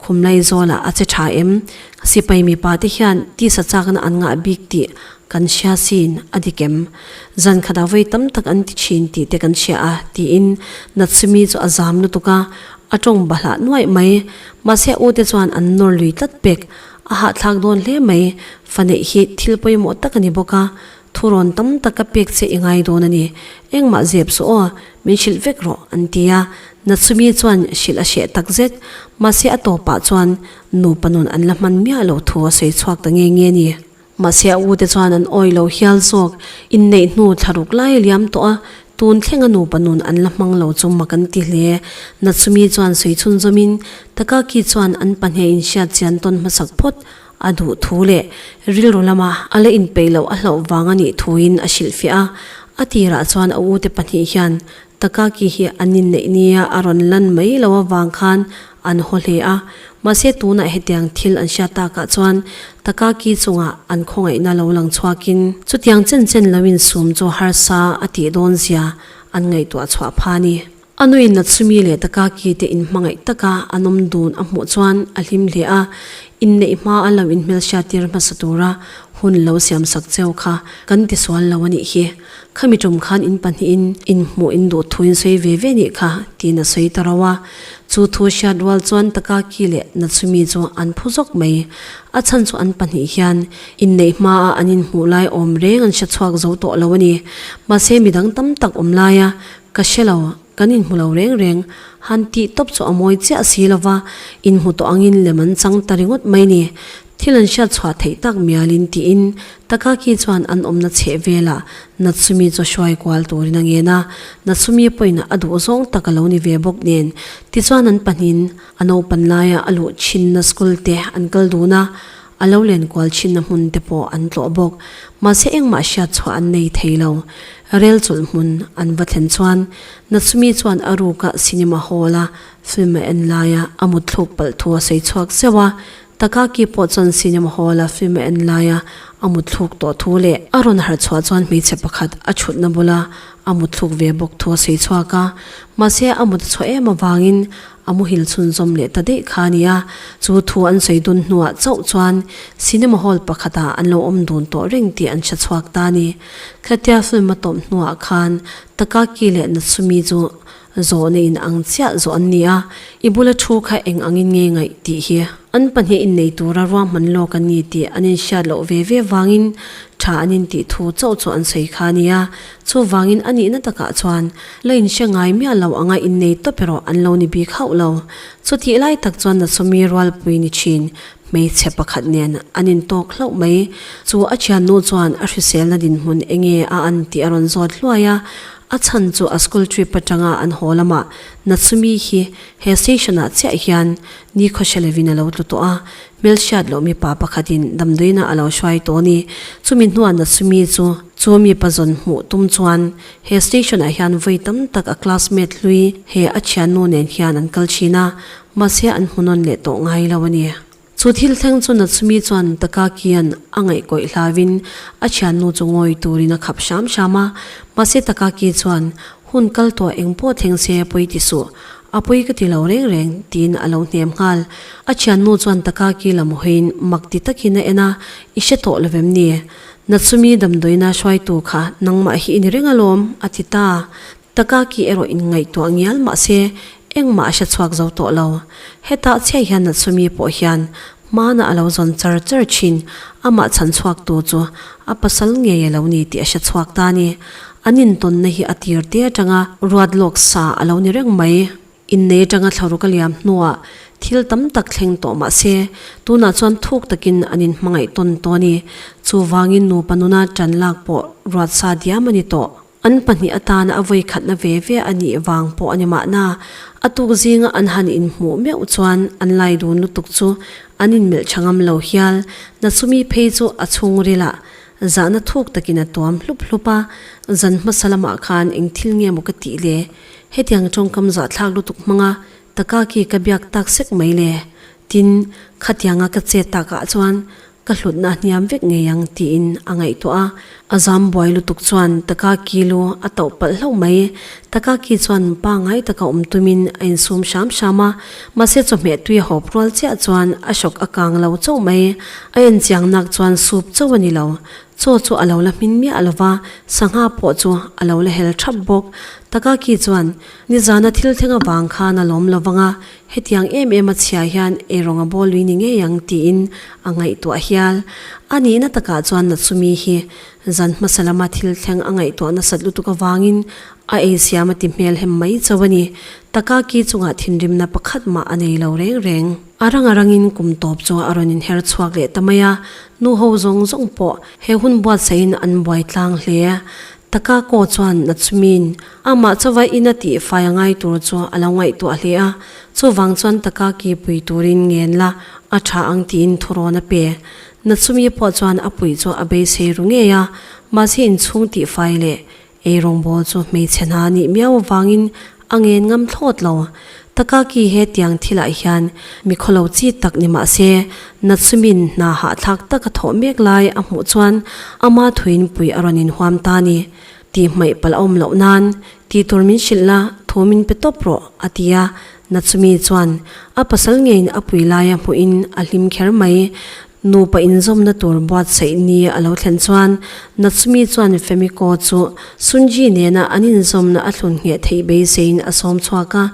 Khum lei zawlah a che tha em? Sipai mipa te hian tisa chakna an ngah bik tih kan hria sin a dik em? Zan khat ah vawi tam tak an ti thin tih te kan hria a, tiin Natsumi chu a zam lutuk a, a tawng ba hlah nuaih mai. Mahse ute chuan an nawr lui tlat pek, a hahthlak dawn hle mai. Faneih hi thil pawimawh tak a ni bawk a, Thu rawn tam tak ka pek che i ngai dawn a ni. Engmah zep suh aw, min hrilh vek rawh, an ti a. Natsumi chuan hrilh a hreh tak zet. Mahse a tawpah chuan nupa nun an la hman miah lo thu a sawi chhuak ta nge nge ni. Mahse a ute chuan an awi lo hial zawk. Inneih hnu thla ruk lai a liam tawh a, tun thlenga nupa nun an la hmang lo chu mak an ti hle. Natsumi chuan sawi chhunzawmin Takaki chuan an pahnih a inhriat chian tawn hmasak phawt. a duhthu leh rilru lama a la inpeih loh a hlauh vang a nih thuin a hrilhfiah a. A tirah chuan a ute pahnih hian Takaki hi an inneih nia a rawn lan mai lo avang khan an haw hle a. Mahse tunah hetiang thil an hriat takah chuan Takaki chungah an khawngaihna lo lang chhuakin, chutiang chen chen loin sum chu harsa a tih dawnzia an ngaihtuah chhuah phan i. A nui nat sumi leh taka kite in hmangaih taka a nawm dun a hmuh chuan a hlim hle a, inneih hma a lo in hmelhriattir hmasa tura hun lo siam sak cheu kha kan ti sual lo a nih hi. Khami ṭum khan in pahnihin in hmuh in duh thu in sawi ve ve nih kha tiin a sawi ta rau a, chu thu hriat rual chuan taka ki leh nat sumi chu an phu zawk mai. A chhan chu an pahnih hian inneih hma a an in hmuh lai awm reng an hre chhuak zo tawh lo a ni. Mahse midang tam tak awm laia Ka hre lo, kan inhmu lo reng reng. Han tih tawp chu a mawi chiah si lo va, inhmu tawh angin lem an chang ta ringawt mai ni. Thil an hriat chhuah theih tak mialin tiin Takaki chuan an awmna chheh vela Natsumi chu hruai kual turin a ngen a, Natsumi pawhin a duh zawng tak a lo ni ve bawk nen. Tichuan an pahnihin a naupan laia a luh thinna school te an kal dun a, a lo len kual thinna hmun te pawh an tlawh bawk, mahse engmah hriatchhuah an nei thei lo. Rel chulh hmun an va thlen chuan Natsumi chuan a ruka cinema hall a film a en laia a mutthluk palh thu a sawi chhuak zeuh a, Takaaki pawh chuan cinema hall a film a en laia a mutthluk tawh thu leh a rawn harh chhuah chuan hmeichhe pakhat a thutna bula a mutthluk ve bawk thu a sawi chhuak a, mahse a mut a chhuah em avangin A muhil chhunzawm leh ta daih kha a ni a, chu thu an sawi dun hnuah chauh chuan cinema hall pakhatah an lo awm dun tawh reng tih an hre chhuak ta a ni. Khatia film a tawp hnuah khan Takaki leh Natsumi chu zawhna in ang chiah zawh an ni a, i bula thu kha eng angin nge ngaih tih hi an pahnih innei tura ruahman lawk an ni tih an inhriat loh ve ve vangin tha an intih thu chauh chu an sawi kha a ni a, Chuvangin a nihna takah chuan la inhre ngai miah lo anga innei tawp erawh an lo ni bik hauh lo. Chutih lai tak chuan Nasumi rualpui ni thin hmeichhe pakhat nen an intawk hlauh mai. Chu a thiannu chuan a hriselna dinhmun enge a an tih a rawn zawt hluai a. A chhan chu a school trip atanga an haw lamah Nasumi hi he station-ah chiah hian Nikhaw-hre lovin a lo tlu tawh a, hmel hriat loh mipa pakhatin damdawiinah a lo hruai tawh a ni. Chumi hnuah Natsumi chu chu mipa zawn hmuh tum chuan he station-ah hian vawi tam tak a classmate hlui he a thiannu nen hian an kal thin a, mahse an hmunawn leh tawh ngai lo a ni. Chu thil thleng chu Natsumi chuan Takakian a ngaihkawih hlavin a thiannu chu ngawi turin a khap hram hram a, mahse Takaki chuan Hun kal tawh eng pawh thleng se pawi ti suh, a pawi ka ti lo reng reng, tiin a lo hnem nghal. A thiannu chuan taka ki lam hawiin mak ti takin a en a, I hre tawh lo vem ni? Natsumi damdawina hruaitu kha nangmah hi i ni reng alawm, a ti ta. Taka ki erawh in ngaihtuah ngial mahse, engmah a hre chhuak zo tawh lo. Hetah chiah hian Natsumi pawh hian Hmana a lo zawn char char thin, amah chhan chhuak tur chu a pasal ngei a lo ni tih a hre chhuak ta a ni. An intawnna hi a tir te atanga ruat lawk sa a lo ni reng mai. Innei atanga thlaruk a liam hnuah thil tam tak thleng tawh mah se, tunah chuan thuk takin an inhmangaih tawn tawh a ni. Chuvangin nupa nuna tanlak pawh ruat sa diam a ni tawh. An pahnih atana a vawi khatna ve ve a nih vang pawh a ni mahna, a tuk zinga an han inhmuh meuh chuan an laidun lutuk chu an inmelh tha ngam lo hial. Na chumi phei chu a chhungril a zahna thuk takin a tuam hlup hlup a, zan hmasa lamah khan eng thil nge maw ka tih le? Hetiang tawngkam zahthlak lutuk hmanga Taka khi ka biak tak sek mai le, tin, khatianga ka che tak ah chuan ka hlutna a hniam vek ngei ang tiin a ngaihtuah a. A zam buai lutuk chuan Taka khi lu a tauh palh hlauh mai. Taka khi chuan pangngai taka awm tum in a in sum hram hram a, mahse chawhmeh tui a hawp rual chiah chuan a shock a kang lo chauh mai. A en chiang nak chuan sup chauh a ni lo. Chaw chu a lo la hmin miah lo va, sangha pawh chu a lo la hel thap bawk. Taka khi chuan. Nizana thil thleng avang khan a lawm lo vang a, hetiang em em a chhia hian erawng a bawlui ni ngei ang tiin a ngaihtuah hial. A nihna takah chuan na chumi hi zan hmasa lama thil thleng a ngaihtuah nasat lutuk avangin a ei siam a ti hmel hem mai chauh a ni. Taka ki chungah thinrimna pakhat mah a nei lo reng reng. A rang a rangin kum tawp chu a rawn inher chhuak leh ta mai a, nu ho zawng zawng pawh he hun buatsahin an buai tlang hle. Taka kaw chuan na chumin. Amah chauva ina tifai a ngai tur chu a lo ngaihtuah hle a, chuvang chuan taka kipui turin ngen la a tha ang tiin thurawn a pe. Natsumi pawh chuan a puih chu a beisei ru ngei a, mahse inchhung tifai leh ei rawngbawl chu hmeichhe hna nih miau avangin a ngen ngam thlawt lo. Taka ki hetiang thilah hian mikhaw lo chi tak ni mahse Natsumin hna hahthlak taka thawh mek lai a hmuh chuan ama thuin puih a rawn inhuam ta a ni. Tih hmaih palh a awm loh nan, tih tur min hrilh la, thu min pe tawp rawh, a ti a. Natsumi chuan a pasal ngeiin a pui laia hmuhin a hlim kher mai. Nupa inzawmna tur buatsaih ni a lo thlen chuan Natsumi chuan Fumiko chu Sunji nena an inzawmna a thlun ngheh theih beiseiin a sawm chhuak a.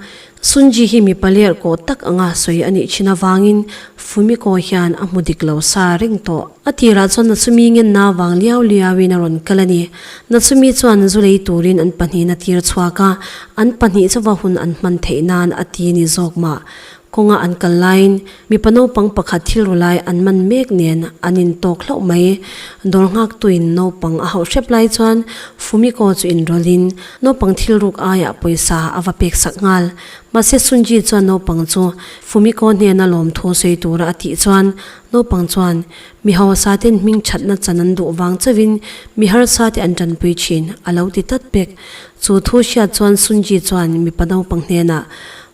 Sunji hi mipa lerhkawh tak anga sawi a nih chin avangin Fumiko hian a hmu dik lo sa reng tawh. A tirah chuan Natsumi ngenna avang liau liauin a rawn kal a ni. Natsumi chuan zu lei turin an pahnihin a tir chhuak a, an pahnih chauva hun an hman theih nan a ti a ni zawk mah. Kawnga an kal laiin. Mipa naupang pakhat thil ru lai an man mek nen an intawk hlauh mai. Dawr nghaktuin naupang a hauh hrep lai chuan Fumiko chu inrawlhin naupang thil ruk aiah pawisa a va pek sak nghal. Mahse Sunji chuan naupang chu Fumiko hnena lawm thu sawi tura a tih chuan naupang chuan mi hausate'n hming thatna chan an duh vang chauhin mi harsate an tanpui thin a lo ti tlat pek. Chu thu hriat chuan Sunji chuan mipa naupang hnenah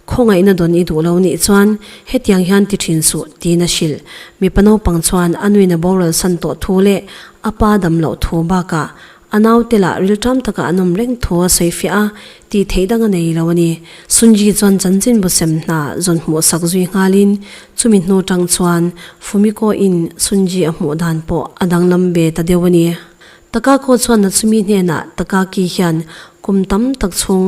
Khawngaihna dawn i duh lo nih chuan hetiang hian ti thin suh tiin a hrilh. Mipa naupang chuan a nuin a bawralsan tawh thu leh a pa dam loh thu bakah a naute lah rilṭam taka an awm reng thu a sawi fiah a, tih theih dang a nei lo a ni. Sunji chuan chanchinbu sem hna zawn hmuh sak zui nghalin chumi hnu ṭang chuan Fumiko-in Sunji a hmuh dan pawh a danglam ve ta deuh a ni. Taka khaw chhuatna chumi hnenah Takaki hian kum tam tak chhung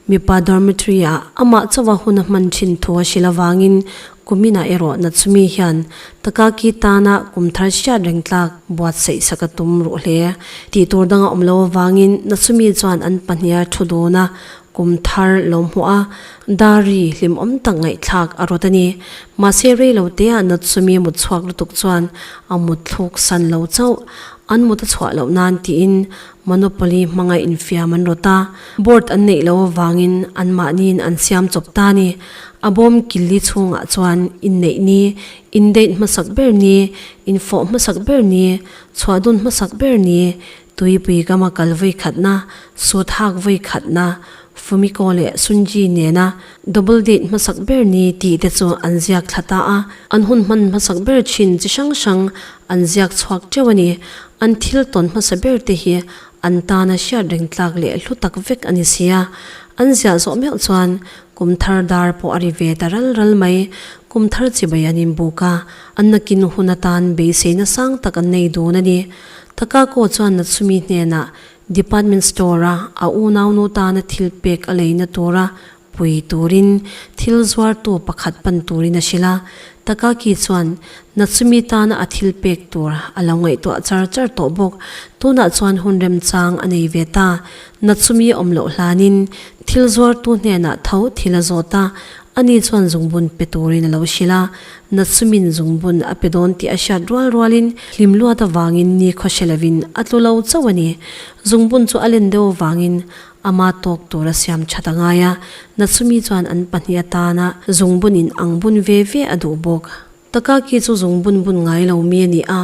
mipa dormitory-ah amah chauha hun a hman thin thu a hrilh avangin Kumina erawh na chumi hian Takaki tana kum thar hriat reng tlak buatsaih sak a tum ruh hle tih tur dang a awm lo avangin na chumi chuan an pahniha thu duna kum thar lo hmuh a dar ri hlim awm tak ngaihthlak a rawt a ni. Mahse rei lo teah na chumi mutchhuak lutuk chuan a mutthluk san lo chauh. An mut a chhuah loh nan tiin monopoly hmangaih infiam an rawt a, board an neih loh avangin anmahniin an siam chawp ta ni. A bawm killi chhungah chuan inneih ni, indate hmasak ber ni, infawh hmasak ber ni, chhuahdun hmasak ber ni, tuipui gama kal vawi khatna, sut hak vawi khatna, Fumiko leh Sunji nena double date hmasak ber ni tih te chu an ziak thla ta a, an hun hman hmasak ber thin chi hrang hrang an ziak chhuak teuh a ni. An thil tawn hmasa ber te hi an tan a hriat reng tlak leh hlu tak vek a ni si a, an ziah zawh meuh chuan kum thar dar pawh a ri ve ta ral ral mai. Kum thar chibai an inbuk a, an nakin hun atan beiseina sang tak an nei dun a ni. Takako chuan Natsumi hnenah Department Store-a a unaunu tana thil pek a leina tura pui turin thil zuartu pakhat pan turin a hrilh a, Takaki chuan Natsumi tana a thil pek tur a lo ngaihtuah char char tawh bawk, tunah chuan hun remchang a nei ve ta. Natsumi awm loh hlanin thil zuartu hnenah tho thil a zawt a, ani chuan zungbun pe turin a lo hrilh a, Nachumin zungbun a pe dawn tih a hriat rual rualin hlimluat avangin nikhaw hre lovin a tlu lo chauh a ni. Zungbun chu a len deuh avangin ama tawk tur a siam that a ngai a, Nachumi chuan an pahnih atana zungbun in ang bun ve ve a duh bawk. Takaki chu zungbun bun ngai lo mi a ni a,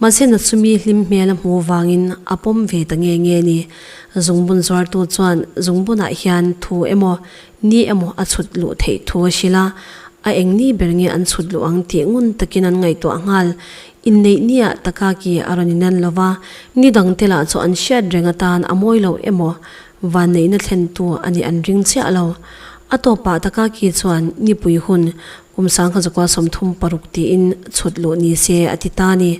mahse Nachumi hlim hmel a hmu avangin a pawm ve ta nge nge a ni. Zungbun zuartu chuan zungbunah hian thu emaw Ni emaw a chhut luh theih thu a sil a, a eng ni ber nge an chhut luh ang tih ngun takin an ngaihtuah nghal. Inneih ni ah Takaki a rawn inan lo va, ni dang te lah chu an hriat reng atan a mawi loh emaw vanneihna thlentu a nih an ring chiah lo. A tawp ah Takaki chuan nipui hun kum sangha zukua sawmthum paruk tiin chhut luh ni se a ti ta a ni.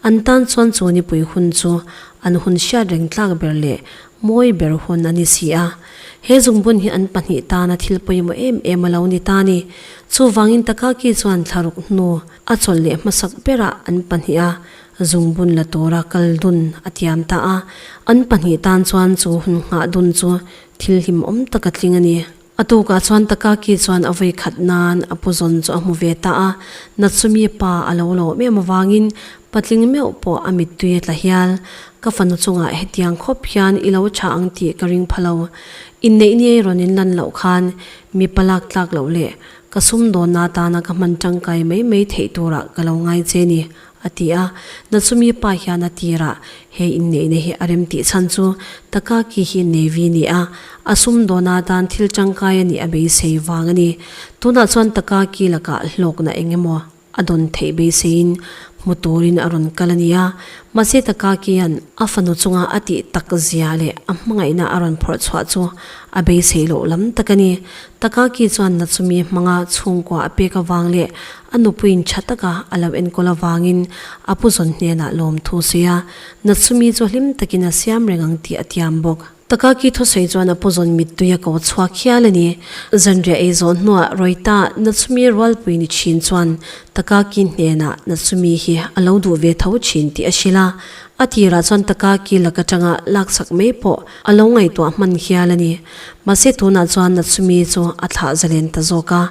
An tan chuan chu nipui hun chu an hun hriat reng tlak ber leh Mawi ber hun a ni si a, he zungbun hi an pahnih tana thil pawimawh em em a lo ni ta a ni. Chuvangin Takaki chuan thlaruk hnu a chawlh leh hmasak bera an pahniha zungbun la tura kal dun a tiam ta a, an pahnih tan chuan chu hun nghah dun chu thil hlimawm taka tling a ni. A tukah chuan Takaki chuan a vawi khat nan a pu zawn chu a hmu ve ta a, Natsumi pa a lo lawm em avangin patling meuh pawh a mittui a tla hial. Ka fanu chungah hetiang khawp hian i lo tha ang tih ka ring pha lo. Inneih niai rawn in lan loh khan mipa lak tlak loh leh ka sum dawnna atana ka hman tangkai mai mai theih turah ka lo ngai che ni, A ti a, Natsumi pa hian a tirah he inneihna hi a rem tih chhan chu Takaki hi Navy nia a sum dawna dan thil tangkai a nih a beisei vang a ni. Tunah chuan Takaki lakah hlawkna eng emaw a dawn theih beiseiin hmu turin a rawn kal a nia. Mahse Takaki-a'n a fanu chunga a tih tak zia leh a hmangaihna a rawn phawrh chhuah chu a beisei loh lam tak a ni. Takaki chuan Natsumi hmanga chhungkua a pek avang leh A nupuiin tha taka a lo enkawl avangin a pu zawn hnenah lawmthu sawi a, Na chumi chu hlim takin a siam reng ang tih a tiam bawk. Takaki thusawi chuan a pu zawn mittui a ko chhuak hial a ni. Zanriah ei zawh hnuah Rawita na chumi rualpui ni thin chuan Takaki hnenah na chumi hi a lo duh ve tho thin tih a hrilh a. A tirah chuan Takaki lak atanga laksak mai pawh a lo ngaihtuah hman hial a ni. Mahse tunah chuan na chumi chu a thlah zalen ta zawk a.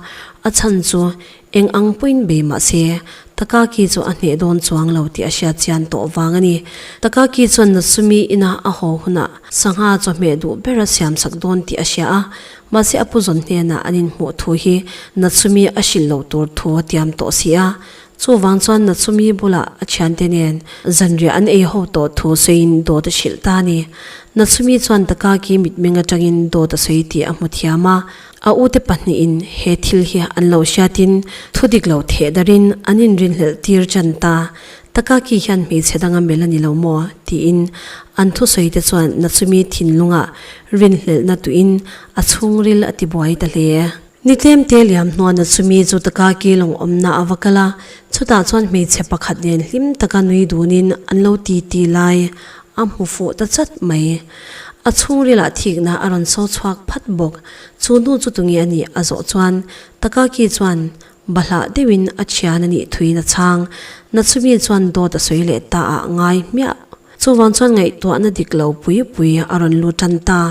A chhan chu eng ang pawhin bei mah se, Takaki chu a hneh dawn chuang lo tih a hriatchian tawh vang a ni. Takaki chuan Natsumi ina a haw hunah sangha chawhmeh duh ber a siamsak dawn tih a hria a, mahse a pu zawn hnenah an inhmuh thu hi Natsumi a hrilh loh tur thu a tiam tawh si a, chuvang chuan Natsumi bulah a thiante nen zanriah an ei ho tawh thu sawiin dawt a hrilh ta a ni. Natsumi chuan Takaki mitmeng atangin dawt a sawi tih a hmu thiam a, A ute pahnihin he thil hi an lo hriatin thudik lo theh darin an inrinhlelh tir chan ta, Takaki hian hmeichhe danga melh a ni lo maw? tiin an thusawite chuan na chumi thinlunga rinhlelhna tuhin a chhungril a tibuai ta hle e. Ni tlem te liam hnuah na chumi chu Takaki lawng awmna a va kal a, chutah chuan hmeichhe pakhat nen hlim taka nui dunin an lo titi lai. A hmu fuh ta chat mai. A chhungrilah thikna a rawn so chhuak phat bawk. Chu hnu chu tunge a nih a zawh chuan Takaki chuan bahlah deuhin a thian a nih thuin a chhang. Natsumi chuan dawt a sawi leh ta ah ngai hmiah. Chuvang chuan ngaihtuahna dik lo pui pui a rawn lu tan ta.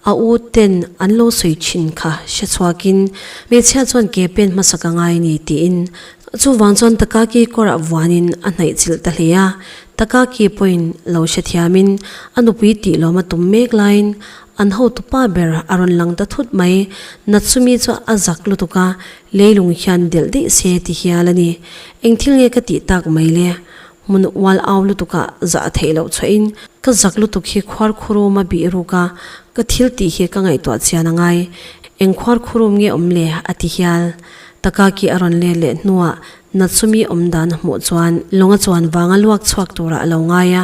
A u ten an lo sawi thin kha hre chhuak in, Hmeichhia chuan ke pen hmasa ka ngai ni tiin chuvang chuan Takaki kawrah vuan in a hnaih chilh ta hle a, Takaki pawhin lo hre thiam in a nupui tih lawm a tum mek lai in an hotu pa ber a rawn lang ta thut mai, Natsumi chu a zak lutuk a, Leilung hian delh daih se ti hial a ni, eng thil nge ka tih tak mai le? Hmun ual au lutukah zah theih loh chhuahin ka zak lutuk hi khuar khurum a bih ruk a, ka thil tih hi ka ngaihtuah chian a ngai. Eng khuar khurum nge awm le? a ti hial. Takaki a rawn ler leh hnuah Natsumi awm dan a hmuh chuan lawng a chuan vang a luak chhuak turah a lo ngai a,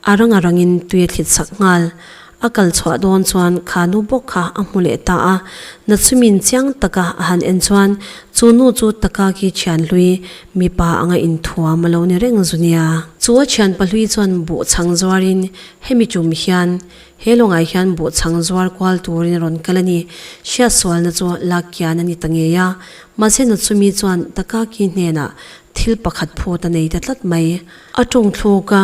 a rang a rangin tui a thlit sak nghal. A kal chhuah dawn chuan kha nu bawk kha a hmu leh ta a, Nachumin chiang taka a han en chuan chu nu chu taka khi thian hlui mipa anga inthuam alo ni reng zu nia. Chu a thianpa hlui chuan buh chhang zuarin hemi tum hian he lawngai hian buh chhang zuar kual turin rawn kal a ni, hriat sualna chu lak kian a ni ta ngei a, mahse Nachumi chuan taka khi hnenah thil pakhat phut a nei ta tlat mai. A tawngthluk a,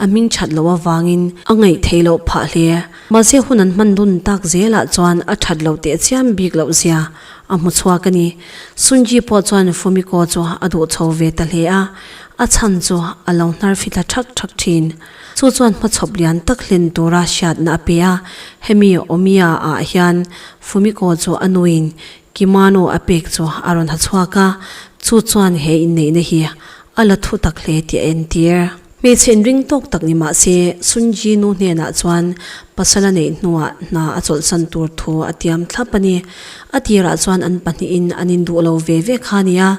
A hming that loh avangin a ngaih theih loh phah hle. Mahse hun an hman dun tak zelah chuan a that loh teh chiam bik loh zia a hmu chhuak a ni. Sunji pawh chuan Fumiko chu a duh chho ve ta hle a, a chhan chu a lo hnarfi thla thak thak thin. Chu chuan hmachhawp lian tak hlen tura hriatna a pe a, hemi Omiya ah hian Fumiko chu a nuin kimono a pek chu a rawn ha chhuak a, chu chuan he inneihna hi a la thu tak hle tih a entir. Hmeichhe in ring tawk tak ni mahse, Sun Ji Nu hnenah chuan pasal a neih hnuah hna a chawlhsan tur thu a tiam thlap a ni. A tirah chuan an pahnihin an induh lo ve ve kha a ni a,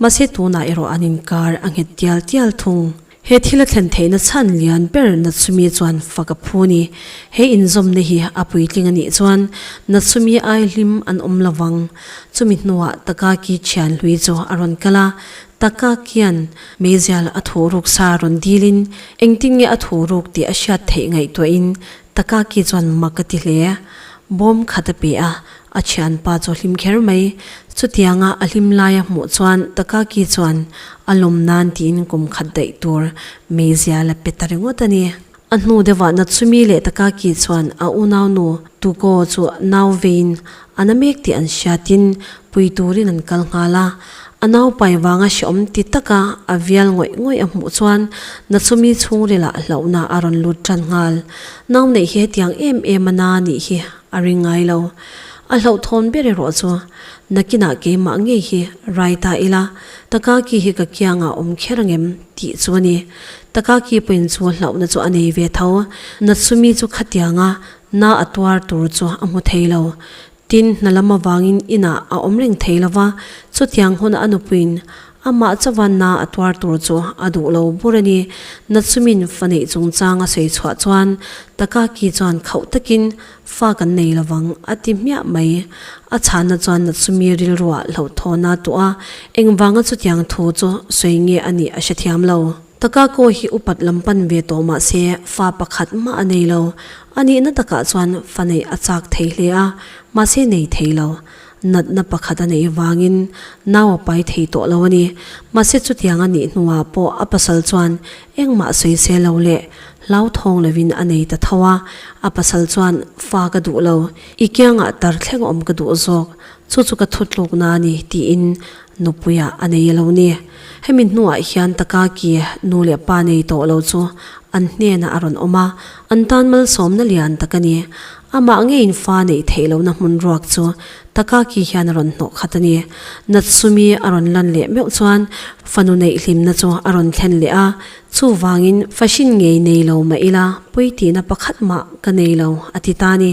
mahse tunah erawh an inkar a nghet tial tial thung. He thil a thlen theihna chhan lian ber Natsumi chuan fak a phu a ni. He inzawmna hi a puitling a nih chuan Natsumi aihlim an awm lo vang. Chumi hnuah Takaki thianhlui chu a rawn kal a, Taka kian Meizial a thu ruk sa rawn dil in, Engtin nge a thu ruk tih a hriat theih ngaihtuah in Taka ki chuan mak a ti hle. Bawm khat a pe a, a thian pa chu a hlim kher mai. Chutiang a a hlim lai a hmuh chuan Taka ki chuan a lawm nan tiin kum khat daih tur Meizial a pe ta ringawt a ni. A hnu deuhah Natsumi leh Takaki chuan a unau nu Tuko chu nau veiin a na mek tih an hria tin, pui turin an kal nghal a. A naupai vanga hreawm ti taka a vial ngawih ngawih a hmuh chuan Natsumi chhungrila hlauhna a rawn lut ṭan nghal. Nau neih hi hetiang em em a na nih hi a ring ngai lo. A hlauhthawn ber erawh chu, nakinah keimah ngei hi rai ta ila Takaki hi ka kiangah awm kher angem? Tih chu a ni. Taka ki pawhin chu hlauhna chu a nei ve tho. Natsumi chu khatianga na a tuar tur chu a hmu thei lo. Tin, hna lam avangin inah a awm reng thei lo va. Chutiang huna a nupuiin amah chauha na a tuar tur chu a duh lo bur a ni. Natsumin faneih chungchang a sawi chhuah chuan Taka ki chuan khauh takin Fa kan nei lo vang, a ti hmiah mai. A chhana chuan Natsumi rilrua hlauhthawn a tuah a, engvanga chutiang thu chu sawi nge a nih a hre thiam lo. Takako hi upat lam pan ve tawh mah se, fa pakhat mah a nei lo. A nihna takah chuan fa neih a chak thei hle a, mahse nei thei lo. natna pakhat a neih vangin nau a pai thei tawh lo a ni. Mahse chutiang a nih hnuah pawh a pasal chuan engmah sawi se lo leh hlauthawng lovin a nei ta tho a, a pasal chuan fa ka duh lo, i kiangah tar thleng awm ka duh zawk, chu chu ka thutlukna a ni, tiin Nupuia a nei lo ni? Hemi hnuah hian Takaki nu leh pa nei tawh lo chu an hnenah a rawn awm a, an tan malsawmna lian tak a ni. Amah ngeiin fa neih theih lohna hmun ruak chu Takaki hian a rawn hnawh khat a ni. Natsumi a rawn lan leh meuh chuan fa nu neih hlimna chu a rawn thlen leh a, chuvangin fa hrin ngei nei lo mah ila, puitihna pakhat mah ka nei lo a ti ta a ni.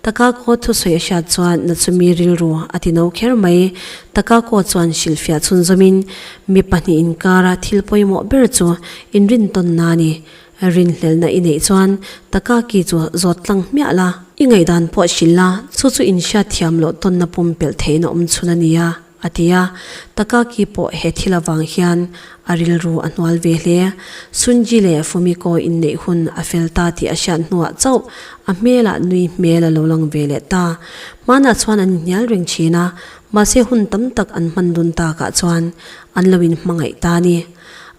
Takako thusawi a hriat chuan na chumi rilru a ti no kher mai. Takako chuan hrilhfiah chhunzawmin, Mi pahnih inkara thil pawimawh ber chu inrintawnna a ni. Rinhlelhna i neih chuan Takaki chu zawt tlang hmiah la. I ngaihdan pawh hrilh la, chu chu inhriatthiam loh tawnna pumpelh theihin a awm chhun a ni a. a ti a. Takaki pawh he thil avang hian a rilru a hnual ve hle. Sunji leh Fumiko inneih hun a fel ta tih a hriat hnuah chauh a hmelah nui hmel a lo lang ve leh ta. Hmanah chuan an inhnial reng thin a, mahse hun tam tak an hman dun takah chuan an lo in hmangaih ta a ni.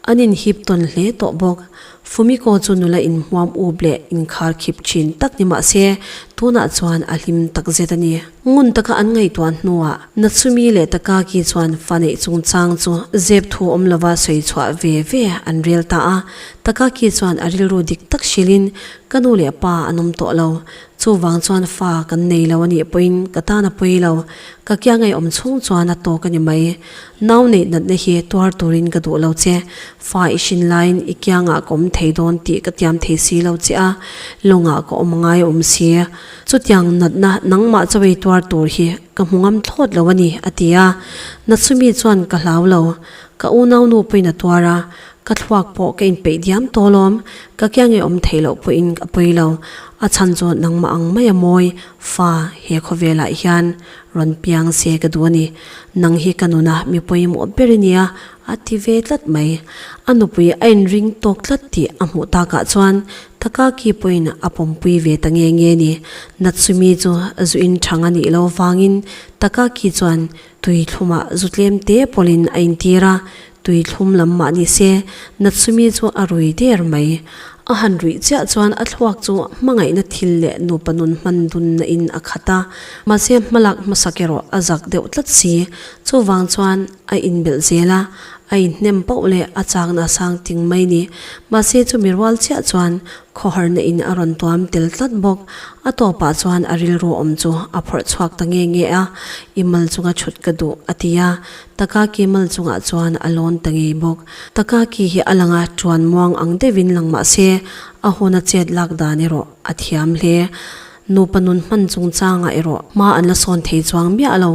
An inhip tawn hle tawh bawk. Fumiko chu nula inhmuam up leh inkhar khip thin tak ni mahse tunah chuan a hlim takzet a ni. Ngun taka an ngaihtuah hnuah Natsumi leh Takagi chuan fa neih chungchang chu zep thu awm lova sawi chhuah ve ve an rel ta a. Takagi chuan a rilru dik tak hrilhin, Ka nu leh pa an awm tawh lo. Chuvang chuan fa kan nei lo a nih pawhin ka tan a pawi lo. Ka kiah ngaihawm chhung chuan a tawk a ni mai. Nau neih natna hi tuar turin ka duh lo che. Fa i hrin laiin i kiangah ka awm thei dawn tih ka tiam thei si lo che a, lawngah ka awm a ngai a awm si. Chutiang natna nangmah chaw ei tuar tur hi ka hmu ngam thlawt lo a ni, a ti a. Natsumi chuan ka hlau lo. Ka unaunu pawhin a tuar a, ka thluak pawh ka inpeih diam tawlawm. Ka kiang e awm theih loh pawhin a pawi lo. A chhan chu nangmah ang mai a mawi. Fa, he khawvelah hian rawn piang se ka duh a ni. Nang hi ka nuna mi pawimawh ber i nia, a ti ve tlat mai. A nupui a inring tawk tlat tih a hmuh takah chuan Taka ki pawhin a pawmpui ve ta nge nge ni. Natsumi chu zu in thang a nih lo vangin Taka ki chuan tui thluma zu tlem te pawlhin a intir a, tui thlum lam mah ni se, Natsumi chu a rui der mai. A han rui chiah chuan a thluak chu hmangaihna thil leh nupa nun hman dunna in a khat a, mahse hmalak hmasak erawh a zak deuh tlat si. Chuvang chuan. a inbelh zel a, a inhnem poh leh a chakna a sang ting mai ni. Mahse chumi rual chiah chuan khawharna in a rawn tuam tel tlat bawk. A tawpah chuan a rilru awm chu a phawrh chhuak ta nge nge a, i mal chunga chhut ka duh a ti a, Takaki mal chungah chuan a lawn ta ngei bawk. Takaki hi a langa ṭuan muang ang deuhin lang mahse a hun a chet lak dan erawh a thiam hle. Nupa nun hman chungchangah erawh hma an la sawn thei chuang miah lo.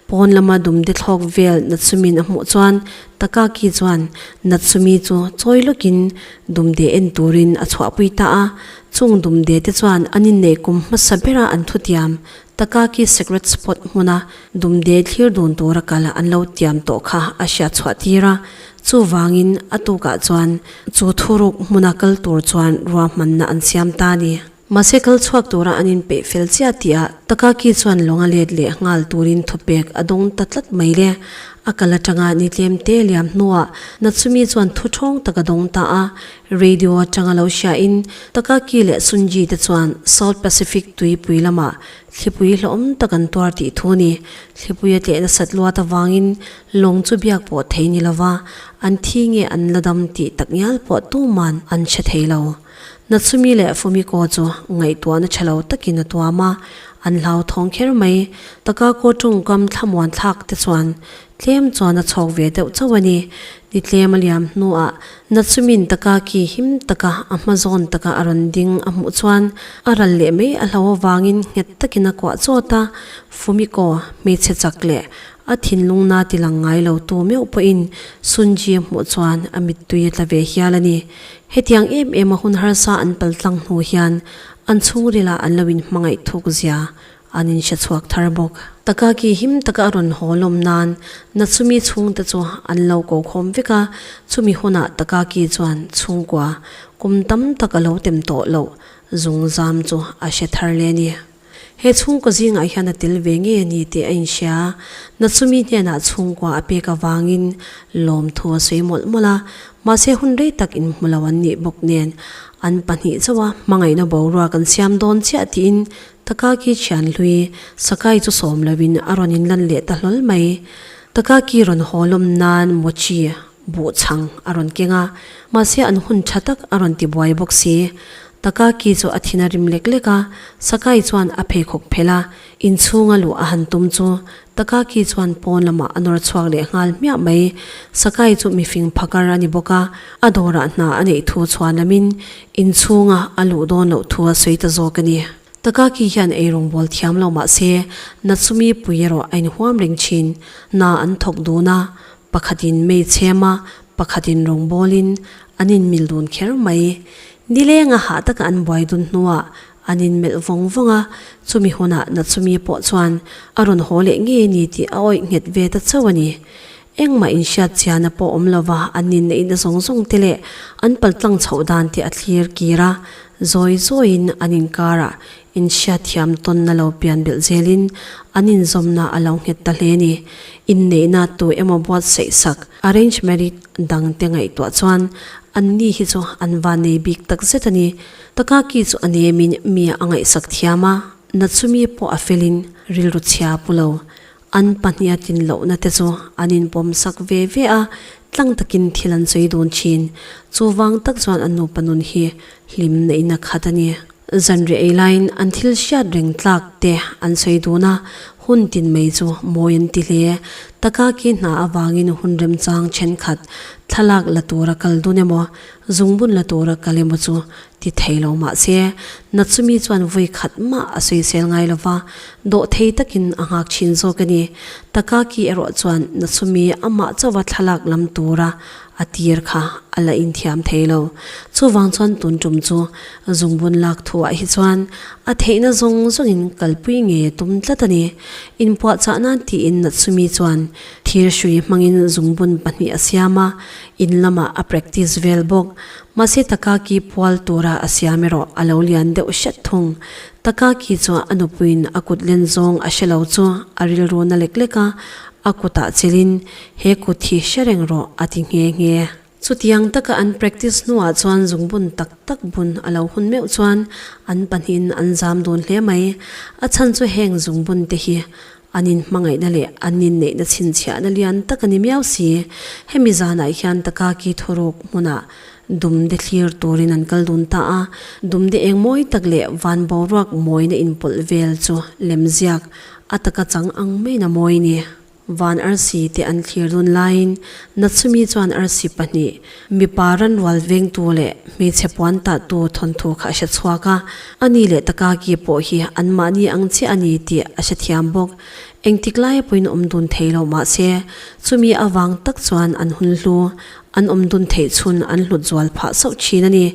Pawn lama dumde thlawk vel Natsumin a hmuh chuan Takaki chuan Natsumi chu chawi lawkin dumde en turin a chhuahpui ta a. Chung dumde te chuan an inneih kum hmasa bera an thu tiam. Takaki secret spot hmuna dumde thlir dun tura kal an lo tiam tawh kha a hriatchhuah tir a. Chuvangin a tukah chuan chu thuruk hmuna kal tur chuan ruahmanna an siam ta a ni. Mahse kal chhuak tura an inpeih fel chiah tia Takaki chuan lawng a let leh nghal turin thupek a dawng ta tlat mai le. A kal atanga ni tlem te liam hnuah Natsumi chuan thu thawng tak a dawng ta a. Radio atanga lo hriain Takaki leh Sunji te chuan South Pacific tuipui lamah thlipui hlawm tak an tuar tih thu a ni. Thlipui a tleh nasat luat avangin lawng chu biak pawh thei ni lova, an thi nge an la dam tih tak ngial pawh tuman an hre thei lo. Natsumi leh Fumiko chu ngaihtuahna tha lo takin a tuam a, an hlauthawng kher mai. Takako tawngkam thlamuan thlak te chuan tlem chuan a chhawk ve deuh chauh a ni. Ni tlem a liam hnuah Natsumin Takaki him taka a hma zawn taka a rawn ding a hmuh chuan a ral leh mai a hlau avangin nghet takin a kuah chawt a. Fumiko hmeichhe chak leh a thinlung na tilang ngai lo tu meuh pawhin Sunji-a hmuh chuan a mittui a tla ve hial a ni. Hetiang em em a hun harsa an pal tlang hnu hian an chhungril ah an lo in hmangaih thuk zia an in hre chhuak thar bawk. Taka ki him taka a rawn haw lawm nan na chumi chhung te chu an lo ko khawm vek a, chumi hun ah taka ki chuan chhungkua kum tam tak a lo tem tawh loh zung zam chu a hre thar le a ni. He chhungkaw zingah hian a tel ve ngei a ni tih a inhria. Natsumi hnenah chhungkua a pek avangin lawmthu a sawi mawlh mawlh a, mahse hun rei tak inhmu lo an nih bawk nen an pahnih chauha hmangaihna boruak an siam dawn chiah tiin Takaki thianhlui Sakai chu sawm loin a rawn inlan leh ta hlawl mai. Takaki rawn haw lawm nan Mochi buh chhang a rawn keng a, mahse an hun tha tak a rawn ti buai bawk si. Takaki chu a thin a rim lek lek a, Sakai chuan a pheikhawk phelh a, inchhunga luh a han tum chu Takaki chuan pawn lamah a nawr chhuak leh nghal hmiah mai. Sakai chu mifing phakar a ni bawk a, a dawrah hna a neih thu chhuah lamin inchhunga a luh dawn loh thu a sawi ta zawk a ni. Takaki hian ei rawngbâwl thiam lo mahse Natsumi pui erawh a inhuam reng thin, hna an thawk dun a, Pakhatin mei chhem a, pakhatin rawngbawl in an in mil dun kher mai. Ni leng a hah taka an buai dun hnu ah an in melh vawng vawng a, chumi hun ah Nachumi pawh chuan a rawn haw leh nge ni tih a awih nghet ve ta chauh a ni. Engmah in hriat chian a pawh awm lo va, an nin na in a zawng zawng te leh an paltlang chhoh dan te a thlir kir a, zawi zawi in an in kar ah Inhriatthiam tawnna lo pian belh zelin an inzawmna a lo nghet ta hle ni. Inneihna tu emaw buatsaih sak, arranged marriage, dang te ngaihtuah chuan anni hi chu an va nei bik tak zet a ni. Takaki chu ani emin mia a ngaihsak thiam a, na chumi pawh a felin rilru chhia pu lo. An pahniha tin lohna te chu an inpawm sak ve ve a, tlang takin thil an sawi dun thin. Chu vang tak chuan an nupa nun hi hlim neihna khat a ni. Zanriah ei laiin an thil hriat reng tlak te an sawi dun a, hun tin mai chu mawi an ti hle. Takaki hna avangin hun remchang thenkhat thlalak la tura kal dun emaw, zungbun la tura kal emaw chu ti thei lo mah se, Natsumi chuan vawi khat mah a sawisel ngai lo va, dawh thei takin a nghak thin zawk a ni. Takaki erawh chuan Natsumi amah chauha thlalak lam tura a tir kha a la inthiam thei lo. Chuvang chuan tun tum chu zungbun lak thuah hi chuan a theihna zawng zawngin kalpui nge tum tlat a ni. Inpuahchah nan tiin Natsumi chuan thir hrui hmangin zungbun pahnih a siam a, in lamah a practice vel bawk. Mahse Takaki pual tura a siam erawh a lo lian deuh hret thung. Takaki chuan a nupuiin a kut len zawng a hre lo chu a rilru na lek lek a, a kutah chilhin, He kut hi hre reng rawh, a ti nghe nghe. Chutiang taka an practice hnuah chuan zungbun tak tak bun a lo hun meuh chuan an pahnihin an zam dun hle mai. A chhan chu heng zungbunte hi An in hmangaihna leh an in neihna chhinchhiahna lian tak a ni miau si. Hemi zanah hian Takaki thuruk hmunah dumde thlir turin an kal dun ta a, dumde eng mawi tak leh van boruak mawina inpawlh vel chu lemziak a taka chang ang mena mawi ni. Van arsi te an thlir dun laiin Natsumi chuan arsi pahnih, Mipa ranrual vengtu leh hmeichhe puan tahtu thawnthu kha a hre chhuak a, a ni leh taka ki pawh hi anmahni ang chiah a ni tih a hrethiam bawk. Engtik laia pawhin awm dun thei lo mah se, chumi a vang tak chuan an hun hlu, an awm dun theih chhun an hlut zual phah sauh thin a ni.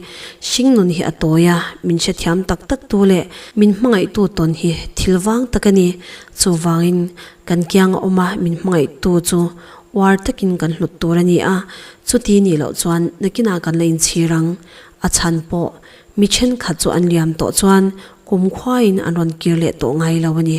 Hringnun hi a tawi a, min hrethiam tak taktu leh min hmangaihtu tawn hi thil vang tak a ni, chuvangin kan kianga awma min hmangaihtu chu Uar takin kan hlut tur a ni a, chuti nih loh chuan nakinah kan la inchhir ang. A chhan pawh, mi ṭhenkhat chu an liam tawh chuan kumkhuain an rawn kir leh tawh ngai lo a ni.